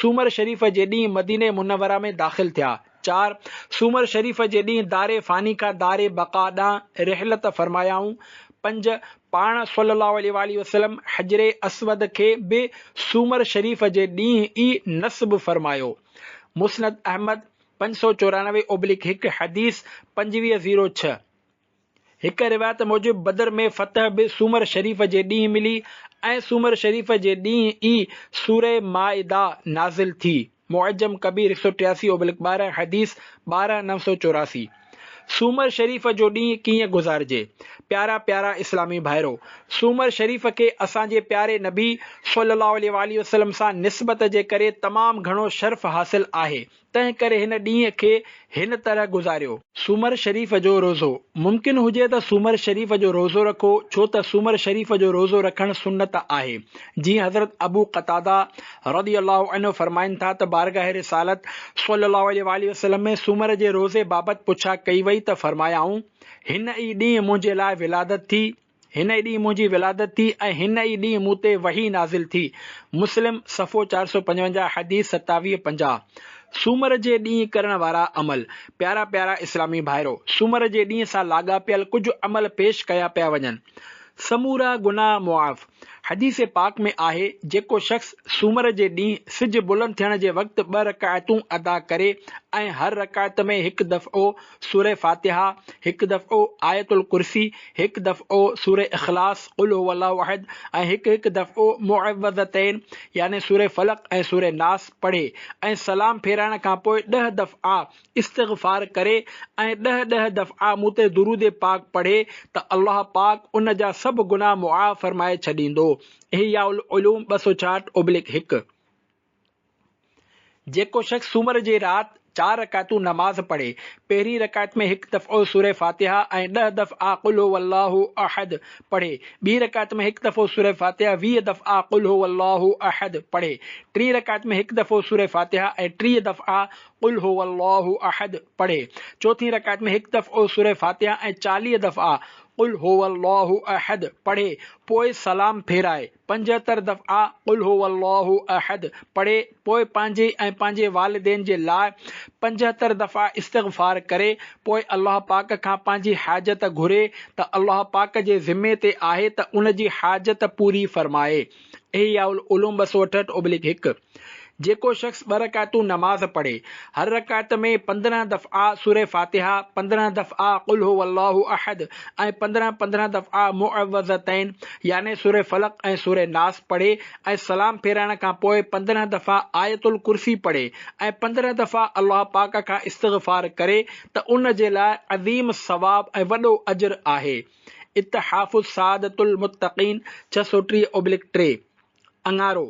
سومر شريف جي ڏينهن مدينه منوره ۾ داخل ٿيا. چار، سومر شريف جي ڏينهن دار فاني کان دار بقا ڏانهن رحلت فرمايائون. پنج، پاڻ صلّي اللّٰه عليه واٰله وسلّم حجر اسود کي به سومر شريف جي ڏينهن ئي نصب فرمايو. مسند احمد، پنج سؤ چورانوي اوبليڪ هڪ حديث پنجويهه زيرو ڇهه، هڪ روايت موجب بدر ۾ فتح به سومر شريف جي ڏينهن ملي ۽ سومر شريف جي ڏينهن ئي سوره مائده نازل ٿي، معجم ڪبير هڪ سؤ ٽياسي اوبلڪ ٻارهن، حديث ٻارهن نو سؤ چوراسي. سومر شريف جو ڏينهن ڪيئن گذارجي؟ پيارا پيارا اسلامي ڀائرو! سومر شريف کي اسان جي پياري نبي صلّي اللّٰه عليه واٰله وسلّم سان نسبت جي ڪري تمام گهڻو شرف حاصل آهي. تنهن ڪري هن ڏينهن کي هن طرح گذاريو. سومر شريف جو روزو، ممڪن هجي ته سومر شريف جو روزو رکو، ڇو ته سومر شريف جو روزو رکڻ سنت آهي. جيئن حضرت ابو قتاده رضي الله عنه فرمائن ٿا ته بارگاهه رسالت صلّي اللّٰه عليه واٰله وسلّم ۾ سومر جي روزي بابت پڇا ڪئي وئي ته فرمايائون، هن ئي ڏينهن منهنجي لاء ولادت ٿي، هن ئي ڏينهن منهنجي ولادت ٿي ۽ هن ئي ڏينهن مون تي وحي نازل ٿي. مسلم، صفحو چار سؤ پنجونجاهه، حديث ستاويهه پنجاهه، سومر جي ڏينهن ڪرڻ وارا عمل، پيارا پيارا اسلامي ڀائرو! سومر جي ڏينهن سان لاڳاپيل ڪجهه عمل پيش ڪيا پيا وڃن. سمورا گناهه معاف. حديث پاڪ ۾ آهي، جيڪو شخص سومر جي ڏينهن سج بلند ٿيڻ جي وقت ٻه رڪعتون ادا ڪري ۽ هر رڪعت ۾ هڪ دفعو سوره فاتحه، هڪ دفعو آيت الڪرسي، هڪ دفعو سوره اخلاص، قل هو الله احد، ۽ هڪ هڪ دفعو معوذتين يعني سوره فلق ۽ سوره ناس پڙهي ۽ سلام ڦيرائڻ کان پوء ڏهه دفعا استغفار ڪري ۽ ڏهه ڏهه دفعا مون تي درود پاڪ پڙهي ته الله پاڪ ان جا سڀ گناهه معاف فرمائي ڇڏيندو، احياء العلوم ٻه سؤ ڇاهٺ اوبلڪ هڪ. جيڪو شخص سومر جي رات چار رڪعتون نماز پڙهي، پهرين رڪعت ۾ هڪ دفعو سوره فاتحه ۽ ڏهه دفعا قل هو الله احد پڙهي، ٻي رڪعت ۾ هڪ دفعو سوره فاتحه ويهه دفعا قل هو الله احد پڙهي، ٽين رڪعت ۾ هڪ دفعو سوره فاتحه ۽ ٽيهه دفعا قل هو الله احد پڙهي، چوٿين رڪعت ۾ هڪ دفعو سوره فاتحه ۽ چاليهه دفعا قل هو الله احد پڙهي پوء سلام ڦيرائي. پنجهتر دفعا قل هو الله احد پڙهي پوء پنهنجي ۽ پنهنجي والدين جي لاء پنجهتر دفعا استغفار ڪري پوء الله پاڪ کان پنهنجي حاجت گهري ته الله پاڪ جي ذمي تي آهي ته ان جي حاجت پوري فرمائي. احياء العلوم ٻه سؤ اٺهٺ اوبليڪ هڪ. جيڪو شخص ٻه رڪعتون نماز پڙهي، هر رڪعت ۾ پندرهن دفعا سوره فاتحه، پندرهن دفعا قل هو الله احد ۽ پندرهن پندرهن دفعا معوذتين يعني سوره فلق ۽ سوره ناس پڙهي ۽ سلام ڦيرائڻ کان پوء پندرهن دفعا آيت الڪرسي پڙهي ۽ پندرهن دفعا الله پاڪ کان استغفار ڪري ته ان جي لاء عظيم ثواب ۽ وڏو اجر آهي، اتحاف سعادت المتقين ڇهه سؤ ٽيهه اوبلڪ ٽي. اڱارو،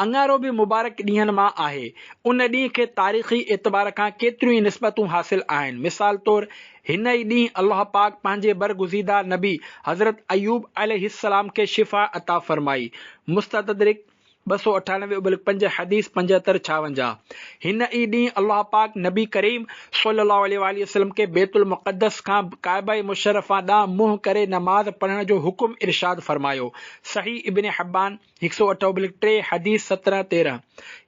اڱارو به مبارڪ ڏينهن مان آهي. ان ڏينهن کي تاريخي اعتبار کان ڪيتريون ئي نسبتون حاصل آهن. مثال طور هن ئي ڏينهن الله پاڪ پنهنجي برگزيده نبي حضرت ايوب عليه السلام کي شفا عطا فرمائي، مستدرڪ، ٻه سؤ اٺاڻوي ابلڪ پنج، حديث پنجهتر ڇاونجاهه، هن ئي ڏينهن الله پاڪ نبي ڪريم صلّي الله عليه واٰله وسلّم کي بيت المقدّس کان ڪعبه مشرّفه ڏانهن منهن ڪري نماز پڙهڻ جو حڪم ارشاد فرمايو، صحيح ابن حبان هڪ سؤ اٺ اوبلڪ ٽي حديث سترهن تيرهن،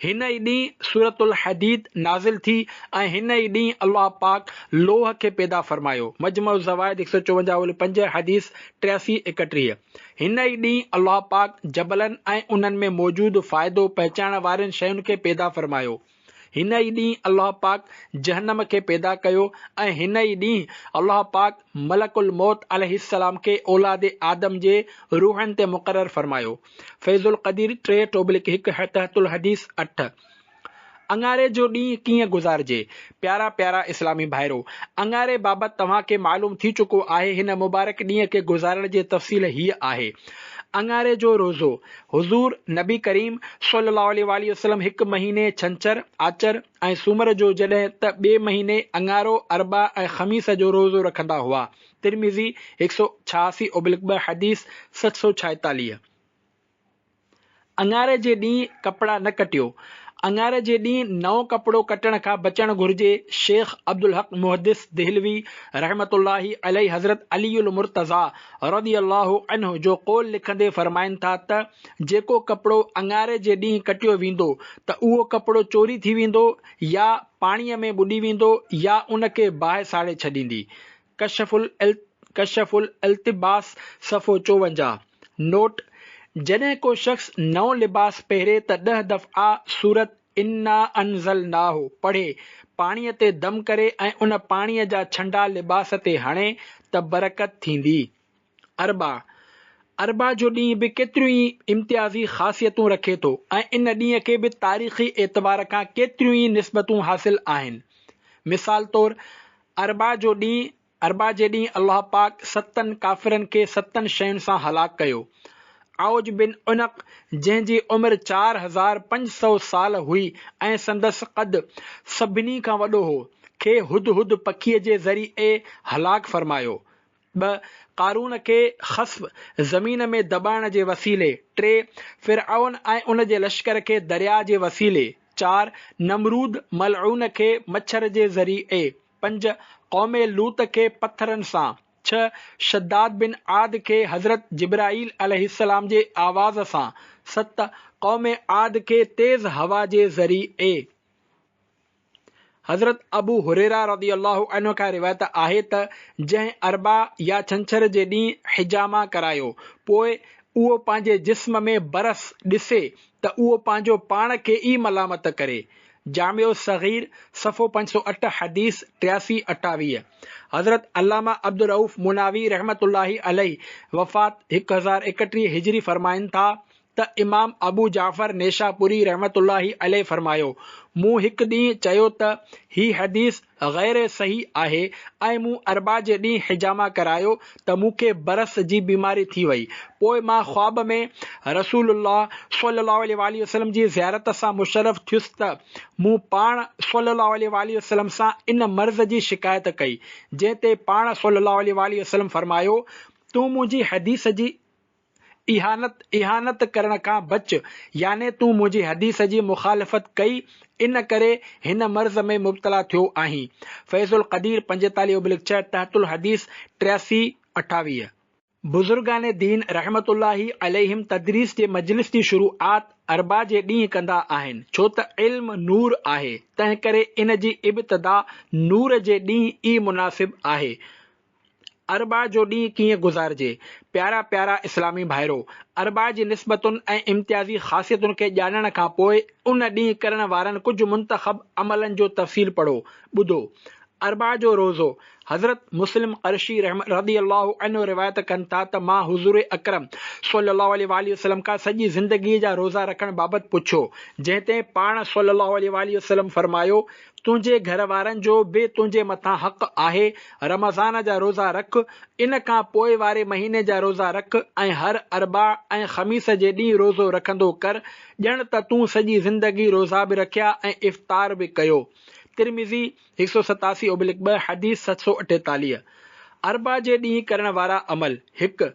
هن ئي ڏينهن سورة الحديد نازل ٿي ۽ هن ئي ڏينهن الله پاڪ لوهه کي پيدا فرمايو، مجمع الزوائد هڪ سؤ چوونجاهه اولي پنج حديث ٽياسي ايڪٽيهه، هن ئي ڏينهن الله پاڪ جبلن ۽ انهن ۾ موجود فائدو پهچائڻ وارين شين کي پيدا فرمايو، هن ئي ڏينهن الله پاڪ جهنم کي پيدا ڪيو ۽ هن ئي ڏينهن الله پاڪ ملڪ الموت عليه السلام کي اولاد آدم جي روحن تي مقرر فرمايو. فيض القدير ٽي ٽوبلڪ هڪ تحت الحديث اٺ. اڱاري جو ڏينهن ڪيئن گذارجي؟ پيارا پيارا اسلامي ڀائرو! اڱاري بابت توهان کي معلوم ٿي چڪو آهي هن مبارڪ ڏينهن کي گذارڻ جي تفصيل هيء آهي. اڱاري جو روزو، حضور نبي ڪريم صلي الله عليه واٰله وسلم هڪ مهيني ڇنڇر، آچر ۽ سومر جو جڏهن ته ٻئي مهيني اڱارو، اربع ۽ خميس جو روزو رکندا هئا، ترمذي هڪ سؤ ڇهاسي اوبلڪ ٻه حديث سٺ سؤ ڇائيتاليهه. اڱاري جي ڏينهن ڪپڙا نه ڪٽيو، اڱاري جي ڏينهن نئون ڪپڙو ڪٽڻ کان بچڻ گهرجي، شيخ عبدالحق محدث دهلوي رحمة الله عليه حضرت علي المرتضيٰ رضي الله عنه جو قول لکندي فرمائن ٿا ته، جيڪو ڪپڙو اڱاري جي ڏينهن ڪٽيو ويندو ته اهو ڪپڙو چوري ٿي ويندو يا پاڻيء ۾ ٻڏي ويندو يا ان کي باهه ساڙي ڇڏيندي، ڪشف الالت ڪشف الالتباس صفحو چوونجاهه، نوٽ، جڏهن ڪو شخص نئون لباس پهري ته ڏهه دفعا سورت انا انزلناه پڙهي، پاڻيء تي دم ڪري ۽ ان پاڻيء جا ڇنڊا لباس تي هڻي ته برڪت ٿيندي. اربع، اربع جو ڏينهن به ڪيتريون ئي امتيازي خاصيتون رکي ٿو ۽ ان ڏينهن کي به تاريخي اعتبار کان ڪيتريون ئي نسبتون حاصل آهن. مثال طور اربع جو ڏينهن، اربع جي ڏينهن الله پاڪ ستن ڪافرن کي ستن شين سان هلاڪ ڪيو. عوج بن عنق جنهن جي عمر چار هزار پنج سؤ سال هئي ۽ سندس قد سڀني کان وڏو هو، کي هدهد پکيء جي ذريعي هلاڪ فرمايو. ٻه، قارون کي خصب زمين ۾ دٻائڻ جي وسيلي، ٽي، فرعون ۽ ان جي لشڪر کي درياء جي وسيلي، چار، نمرود ملعون کي مڇر جي ذريعي، پنج، قوم لوط کي پٿرن سان، ڇهه، شداد بن عاد کي حضرت جبرائيل عليه السلام جي آواز سان، ست، قوم عاد کي تيز هوا جي ذريعي. حضرت ابو هريره رضي الله عنه کان روايت آهي ته جنهن اربع يا ڇنڇر جي ڏينهن حجامه ڪرايو پوء اهو پنهنجي جسم ۾ برس ڏسي ته اهو پنهنجو پاڻ کي ئي ملامت ڪري. جامع الصغير، صفحو پنج سؤ اٺ حديث ٽياسي اٺاويهه، حضرت علامه عبدالرؤف مناوي رحمة الله عليه وفات هڪ هزار ايڪٽيهه هجري فرمائن ٿا ته امام ابو جعفر نيشاپوري رحمة الله عليه فرمايو، مون هڪ ڏينهن چيو ته هي حديث غير صحيح آهي ۽ مون اربع جي ڏينهن حجامه ڪرايو ته مون کي برس جي بيماري ٿي وئي، پوء مان خواب ۾ رسول الله صلي الله عليه واٰله وسلم جي زيارت سان مشرف ٿيس ته مون پاڻ صلي الله عليه واٰله وسلم سان ان مرض جي شڪايت ڪئي، جنهن تي پاڻ صلي الله عليه واٰله وسلم فرمايو، تون منهنجي حديث جي اهانت اهانت ڪرڻ کان بچ، يعني تون منهنجي حديث جي مخالفت ڪئي، ان ڪري هن مرض ۾ مبتلا ٿيو آهين. فيض القدير پنجيتاليهه اوبلڪ ڇهه، تحت الحديث ٽياسي، اٺاويهه. بزرگان دين رحمة الله عليهم تدريس جي مجلس جي شروعات اربع جي ڏينهن ڪندا آهن، ڇو ته علم نور آهي، تنهنڪري ان جي ابتدا نور جي ڏينهن ئي مناسب آهي. اربع جو ڏينهن ڪيئن گذارجي؟ پيارا پيارا اسلامي ڀائرو! اربع جي نسبتن ۽ امتيازي خاصيتن کي ڄاڻڻ کان پوء ان ڏينهن ڪرڻ وارن ڪجهه منتخب عملن جو تفصيل پڙهو، ٻڌو. اربع جو روزو، حضرت مسلم قرشي رضي الله عنه روايت ڪن ٿا ته مان حضور اڪرم صلي الله عليه واٰله وسلم کان سڄي زندگيء جا روزا رکڻ بابت پڇيو، جنهن تي پاڻ صلي الله عليه واٰله وسلم فرمايو، تنهنجي گهر وارن جو به تنهنجي مٿان حق آهي، رمضان جا روزا رک، ان کان پوء واري مهيني جا روزا رک ۽ هر اربع ۽ خميس جي ڏينهن روزو رکندو ڪر، ڄڻ ته تون سڄي زندگي روزا به رکيا ۽ افطار به ڪيو. ترمذي، هڪ سؤ ستاسي اوبلڪ ٻه، حديث ست سؤ اٺيتاليهه. اربع جي ڏينهن ڪرڻ وارا عمل، هڪ،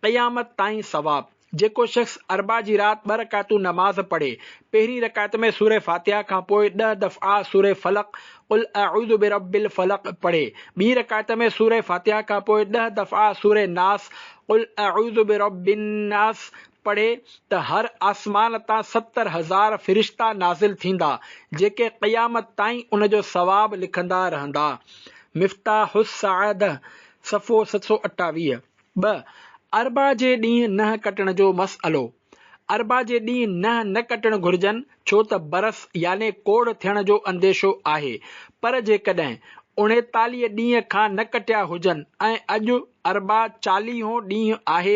قيامت تائين ثواب. جيڪو شخص اربع جي رات ٻه رڪعتون نماز پڙهي، پهرين رڪعت ۾ سوره فاتحه کان پوء ڏهه دفعا سوره فلق، قل اعوذ برب الفلق، پڙهي، ٻي رڪعت ۾ سوره فاتحه کان پوء ڏهه دفعا سوره ناس، قل اعوذ برب الناس، پڙهي ته هر آسمان تان ستر هزار فرشتا نازل ٿيندا، جيڪي قيامت تائين ان جو ثواب لکندا رهندا. مفتاح السعاده، صفحو ست سؤ اٺاويهه. ٻه، اربع جي ڏينهن ننهن ڪٽڻ جو مسئلو، اربع جي ڏينهن ننهن نه ڪٽڻ گهرجن ڇو ته برس يعني ڪوڙهه ٿيڻ جو انديشو آهي، پر جيڪڏهن اڻيتاليهه ڏينهن کان نه ڪٽيا هجن ۽ اڄ اربع چاليهون ڏينهن آهي،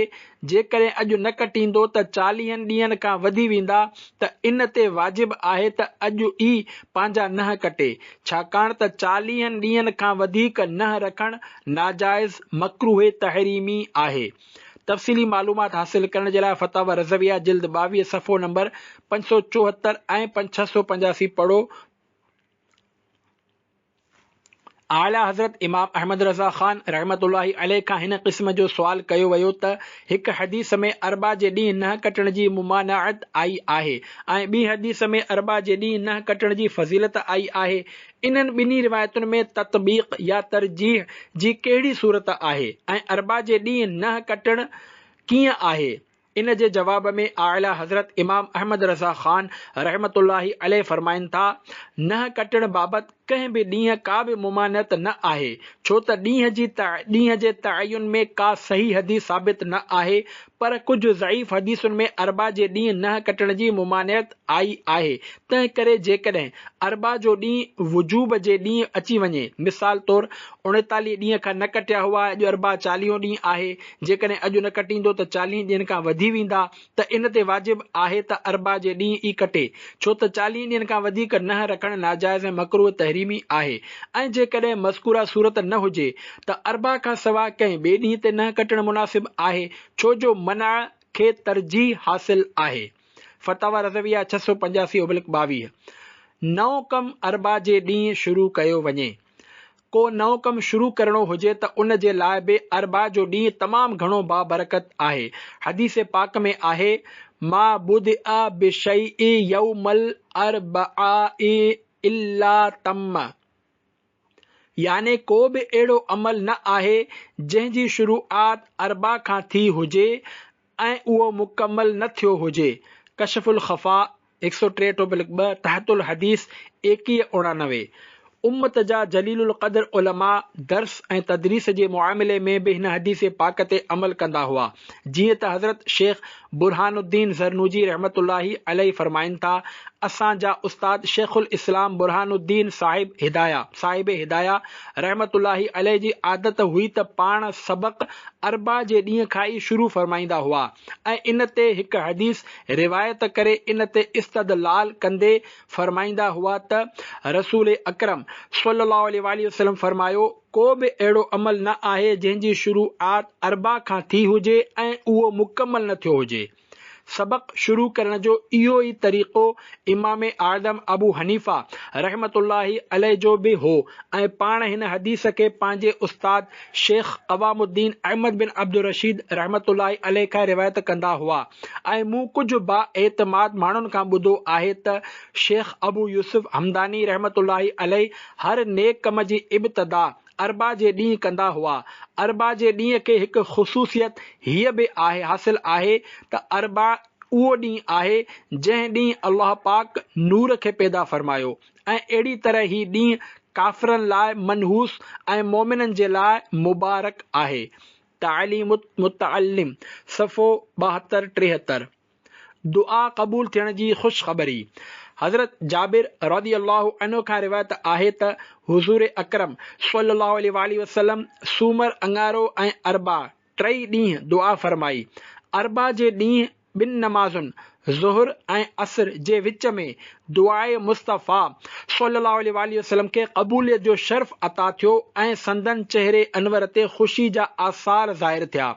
جيڪڏهن اڄ نه ڪٽيندو ته چاليهن ڏينهن کان وڌي ويندا ته ان تي واجب آهي ته اڄ ئي پنهنجا ننهن ڪٽي، ڇاڪاڻ ته چاليهن ڏينهن کان وڌيڪ ننهن رکڻ ناجائز، مڪروه تحريمي، آهي. تفصيلي معلومات حاصل ڪرڻ جي لاء فتاوي رضويه جلد ٻاويهه صفحو نمبر پنج سؤ چوهتر ۽ پنج سؤ ڇهه پنجاسي پڙهو. اعليٰ حضرت امام احمد رضا خان رحمة الله عليه کان هن قسم جو سوال ڪيو ويو ته هڪ حديث ۾ اربع جي ڏينهن ننهن ڪٽڻ جي ممانعت آئي آهي ۽ ٻي حديث ۾ اربع جي ڏينهن ننهن ڪٽڻ جي فضيلت آئي آهي. انهن ٻنهي روايتن ۾ تطبيق يا ترجيح جي ڪهڙي صورت آهي ۽ اربع جي ڏينهن ننهن ڪٽڻ ڪيئن آهي؟ ان جي جواب ۾ اعليٰ حضرت امام احمد رضا خان رحمة الله عليه فرمائن ٿا، ننهن ڪٽڻ بابت، ڪنهن به ڏينهن ڪا به ممانعت نه آهي، ڇو ته ڏينهن جي ڏينهن جي تعين ۾ ڪا صحيح حديث ثابت نه آهي، پر ڪجهه ضعيف حديثن ۾ اربع جي ڏينهن نهن ڪٽڻ جي ممانعت آئي آهي، تنهن ڪري جيڪڏهن اربع جو ڏينهن وجوب جي ڏينهن اچي وڃي، مثال طور اڻيتاليهه ڏينهن کان نه ڪٽيا هئا، اڄ اربع چاليهون ڏينهن آهي، جيڪڏهن اڄ نه ڪٽيندو ته چاليهن ڏينهن کان وڌي ويندا، ته ان تي واجب آهي ته اربع جي ڏينهن ئي ڪٽي، ڇو ته چاليهن ڏينهن کان وڌيڪ ننهن رکڻ ناجائز ۽ مڪروه تحريمي آهي ۽ جيڪڏهن مذڪوره صورت نه هجي ته اربع کان سواء ڪنهن ٻئي ڏينهن تي ننهن ڪٽڻ مناسب آهي ڇو جو منع کي ترجيح حاصل آهي فتاويٰ رضويه ڇهه سؤ پنجاسي اوبلڪ ٻاويهه نئون ڪم اربع جي ڏينهن شروع ڪيو وڃي. ڪو نئون ڪم شروع ڪرڻو هجي ته ان جي لاء به اربع جو ڏينهن تمام گهڻو بابرڪت آهي. حديث پاڪ ۾ آهي، ما بدء بشيء يوم الاربع الا تم يعني ڪو به اهڙو عمل نه آهي جنهن جي شروعات اربع کان ٿي هجي ۽ اهو مڪمل نه ٿيو هجي، ڪشف الخفاء، هڪ سؤ ٽي ٽوپلڪ ٻه، تحت الحديث، ايڪيهه اڻانوي. امت جا جليل القدر علماء درس ۽ تدريس جي معاملي ۾ به هن حديث پاڪ تي عمل ڪندا هئا، جيئن ته حضرت شيخ برهان الدين ذرنوجي رحمة الله عليه فرمائن ٿا، اسان جا استاد شيخ الاسلام برهان الدين صاحب هدايه صاحب هدايه رحمة الله عليه جي عادت هئي ته پاڻ سبق اربع جي ڏينهن کان ئي شروع فرمائيندا هئا ۽ ان تي هڪ حديث روايت ڪري ان تي استدلال ڪندي فرمائيندا هئا ته رسول اڪرم صلي الله عليه واٰله وسلم فرمايو ڪو به اهڙو عمل نه آهي جنهن جي شروعات اربع کان ٿي هجي ۽ اهو مڪمل نه ٿيو هجي سبق شروع ڪرڻ جو اهو ئي طريقو امام اعظم ابو حنيفه رحمة الله عليه جو به هو ۽ پاڻ هن حديث کي پنهنجي استاد شيخ قوام الدين احمد بن عبدالرشيد رحمة الله عليه کان روايت ڪندا هئا ۽ مون ڪجهه با اعتماد ماڻهن کان ٻڌو آهي ته شيخ ابو يوسف همداني رحمة الله عليه هر نيڪ ڪم جي ابتدا اربع جي ڏينهن ڪندا هئا. اربع جي ڏينهن کي هڪ خصوصيت هيء به آهي حاصل آهي ته اربع اهو ڏينهن آهي جنهن ڏينهن الله پاڪ نور کي پيدا فرمايو ۽ اهڙي طرح هي ڏينهن ڪافرن لاء منحوس ۽ مؤمنن جي لاء مبارڪ آهي تعليم المتعلم صفحو ٻاهتر ٽيهتر. دعا قبول ٿيڻ جي خوشخبري حضرت جابر رضي الله عنه کان روايت آهي ته حضور اڪرم صلي الله عليه واٰله وسلم سومر، اڱارو ۽ اربع ٽئي ڏينهن دعا فرمائي. اربع جي ڏينهن ٻن نمازن ظهر ۽ عصر جي وچ ۾ دعاء مصطفيٰ صلي الله عليه واٰله وسلم کي قبوليت جو شرف عطا ٿيو ۽ سندن چهري انور تي خوشي جا آثار ظاهر ٿيا.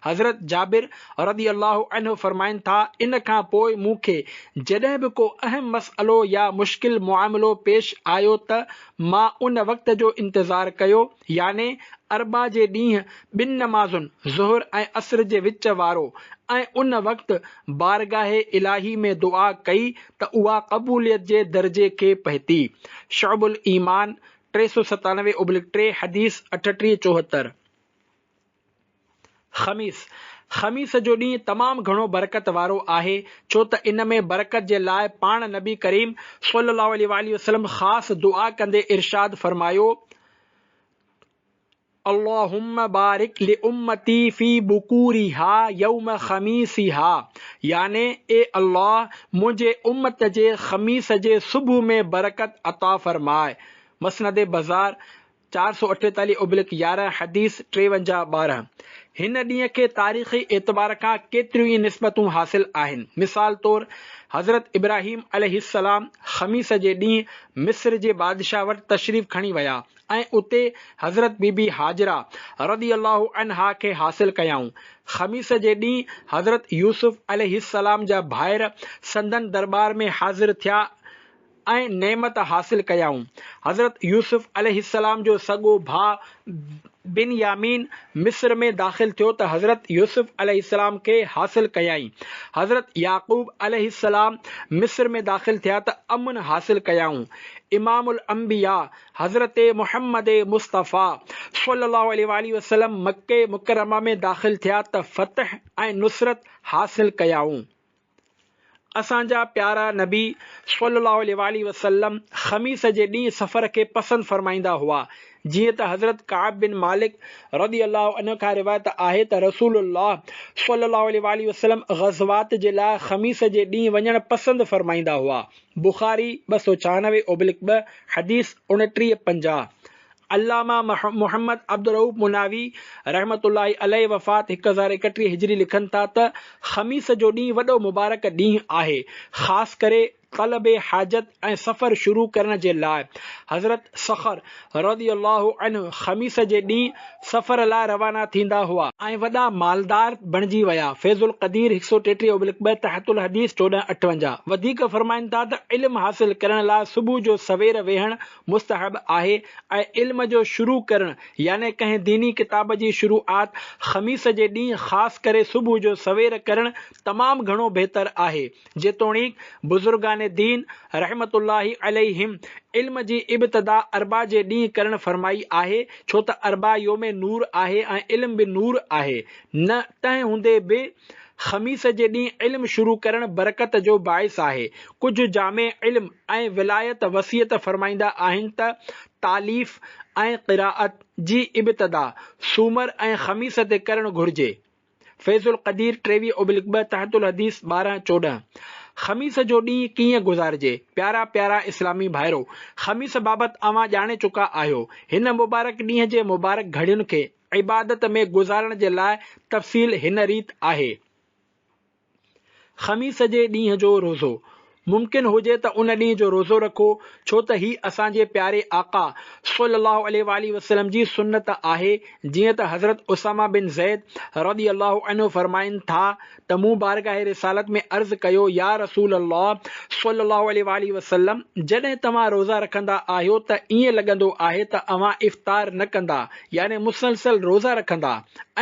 حضرت جابر رضي الله عنه فرمائن ٿا، ان کان پوء مون کي جڏهن به ڪو اهم مسئلو يا مشڪل معاملو پيش آيو ته مان ان وقت جو انتظار ڪيو يعني اربع جي ڏينهن ٻن نمازن ظهر ۽ عصر جي وچ وارو ۽ ان وقت بارگاهه الاهي ۾ دعا ڪئي ته اها قبوليت جي درجي کي پهتي. شعب الايمان، ٽي سؤ ستانوي اوبلڪ ٽي، حديث اٺٽيهه، چوهتر. خميس، خميس جو ڏينهن تمام گهڻو برڪت وارو آهي، ڇو ته ان ۾ برڪت جي لاء پاڻ نبي ڪريم صلي الله عليه واٰله وسلم خاص دعا ڪندي ارشاد فرمايو، اللهم بارڪ لامتي في بڪورها يوم خميسها يعني اي الله منهنجي امت جي خميس جي صبح ۾ برڪت عطا فرماء. مسند بزار، چار سؤ اٺيتاليهه ابلڪ يارهن، حديث ٽيونجاهه ٻارهن، هن ڏينهن کي تاريخي اعتبار کان ڪيتريون ئي نسبتون حاصل آهن، مثال طور حضرت ابراهيم عليه السلام خميس جي ڏينهن مصر جي بادشاهه وٽ تشريف کڻي ويا ۽ اتي حضرت بي بي هاجره رضي الله عنها کي حاصل ڪيائون، خميس جي ڏينهن حضرت يوسف عليه السلام جا ڀائر سندن درٻار ۾ حاضر ٿيا ۽ ۽ نعمت حاصل ڪيائون. حضرت يوسف عليه السلام جو سڳو ڀاء بنيامين مصر ۾ داخل ٿيو ته حضرت يوسف عليه السلام کي حاصل ڪيائين. حضرت يعقوب عليه السلام مصر ۾ داخل ٿيا ته امن حاصل ڪيائون. امام الانبياء حضرت محمد مصطفيٰ صلّي اللّٰه عليه واٰله وسلّم مڪّه مڪرّمه ۾ داخل ٿيا ته فتح ۽ نصرت حاصل ڪيائون. اسان جا پيارا نبي صلّي الله عليه واٰله وسلّم خميس جي ڏينهن سفر کي پسند فرمائيندا هئا، جيئن ته حضرت ڪعب بن مالڪ رضي الله عنه کان روايت آهي ته رسول الله صلّي الله عليه واٰله وسلّم غزوات جي لاء خميس جي ڏينهن وڃڻ پسند فرمائيندا هئا، بخاري ٻه سؤ ڇهانوي اوبلڪ ٻه، حديث اوڻٽيهه پنجاهه. علامه محمد عبدالرئوف مناوي رحمة الله عليه وفات هڪ هزار ايڪٽيهه هجري لکن ٿا ته، خميس جو ڏينهن وڏو مبارڪ ڏينهن آهي، خاص ڪري طلب حاجت ۽ سفر شروع ڪرڻ جي لاء. حضرت صخر رضي الله عنه خميس جي ڏينهن سفر لاء روانا ٿيندا هئا. ۽ وڏا مالدار بڻجي ويا. فيض القدير هڪ سؤ ٽيٽيهه ابلڪ ٻه تحت الحديث چوڏهن اٺونجاهه وڌيڪ فرمائن ٿا ته، علم حاصل ڪرڻ لاء صبح جو سوير ويهڻ مستحب آهي ۽ علم جو شروع ڪرڻ يعني ڪنهن ديني ڪتاب جي شروعات خميس جي ڏينهن خاص ڪري صبح جو سوير ڪرڻ تمام گهڻو بهتر آهي جيتوڻيڪ بزرگان دين رحمة الله عليهم علم جي ابتدا اربع جي ڏينهن ڪرڻ فرمائي آهي ڇو ته اربع يوم نور آهي ۽ علم به نور آهي نه تنهن هوندي به خميس جي ڏينهن علم شروع ڪرڻ برڪت جو باعث آهي. ڪجهه جامع علم ۽ ولايت وصيت فرمائيندا آهن ته، تاليف ۽ قرائت جي ابتدا سومر ۽ خميس تي ڪرڻ گهرجي. فيض القدير ٽيويهه اوبلڪ ٻه تحت الحديث ٻارهن چوڏهن خميس جو ڏينهن ڪيئن گذارجي، پيارا پيارا اسلامي ڀائرو! خميس بابت اوهان ڄاڻي چڪا آهيو. هن مبارڪ ڏينهن جي مبارڪ گهڙين کي. عبادت ۾ گذارڻ جي لاء تفصيل هن ريت آهي، خميس جي ڏينهن جو روزو، ممڪن هجي ته ان ڏينهن جو روزو رکو، ڇو ته هي اسان جي پياري آقا صلّي اللّٰه عليه واٰله وسلّم جي سنّت آهي، جيئن ته حضرت اسامه بن زيد رضي اللّٰه عنه فرمائن ٿا ته مون بارگاهه رسالت ۾ عرض ڪيو، يا رسول الله صلّي الله عليه واٰله وسلّم! جڏهن توهان روزا رکندا آهيو ته ائين لڳندو آهي ته اوهان افطار نه ڪندا، يعني مسلسل روزا رکندا،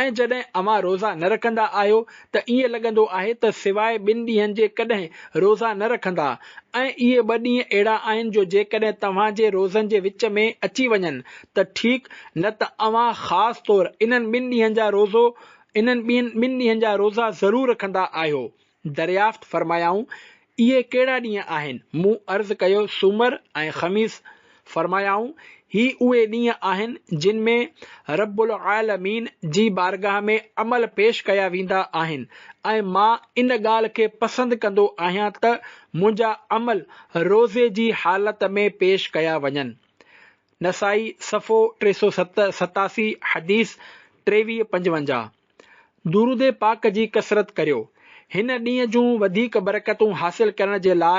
۽ جڏهن اوهان روزا نه رکندا آهيو ته ائين لڳندو آهي ته سواء ٻن ڏينهن جي ڪڏهن روزا نه رکندا، ۽ اهي ٻه ڏينهن اهڙا آهن جو جيڪڏهن توهان جي روزن جي وچ ۾ اچي وڃن ته ٺيڪ، نه ته اوهان خاص طور انهن ٻن ڏينهن جا روزو انهن ٻين ٻن ڏينهن جا روزا ضرور رکندا آهيو؟ دريافت فرمايائون، اهي ڪهڙا ڏينهن آهن؟ مون عرض ڪيو، سومر ۽ خميس. فرمايائون، هي اهي ڏينهن آهن جن ۾ رب العالمين جي بارگاهه ۾ عمل پيش ڪيا ويندا آهن ۽ مان ان ڳالهه کي پسند ڪندو آهيان ته منهنجا عمل روزي جي حالت ۾ پيش ڪيا وڃن. نسائي، صفحو ٽي سؤ ست، ستاسي، حديث ٽيويهه پنجونجاهه، درود پاڪ جي ڪثرت ڪريو، هن ڏينهن جون وڌيڪ برڪتون حاصل ڪرڻ جي لاء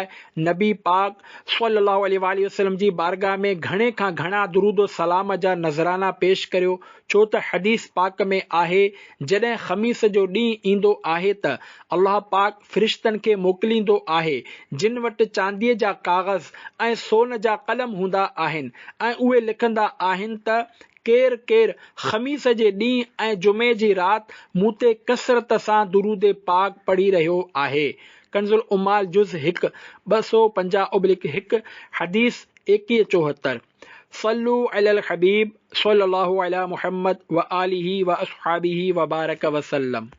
نبي پاڪ صلّي اللّٰه عليه واٰله وسلّم جي بارگاھ ۾ گهڻي کان گهڻا درودوسلام جا نذرانا پيش ڪريو، ڇو ته حديث پاڪ ۾ آهي، جڏهن خميس جو ڏينهن ايندو آهي ته الله پاڪ. فرشتن کي موڪليندو آهي، جن وٽ چانديء جا ڪاغذ ۽ سون جا قلم هوندا آهن ۽ اهي لکندا آهن ته ڪير ڪير خميس جي ڏينهن ۽ جمعي جي رات مون تي ڪثرت سان درود پاڪ پڙهي رهيو آهي. ڪنزالعمال جز هڪ، ٻه سؤ پنجاهه ابلڪ هڪ، حديث ايڪيهه چوهتر، صلو علی الحبيب صلّي الله عليٰ محمّد وآله واصحابه وبارڪ وسلّم.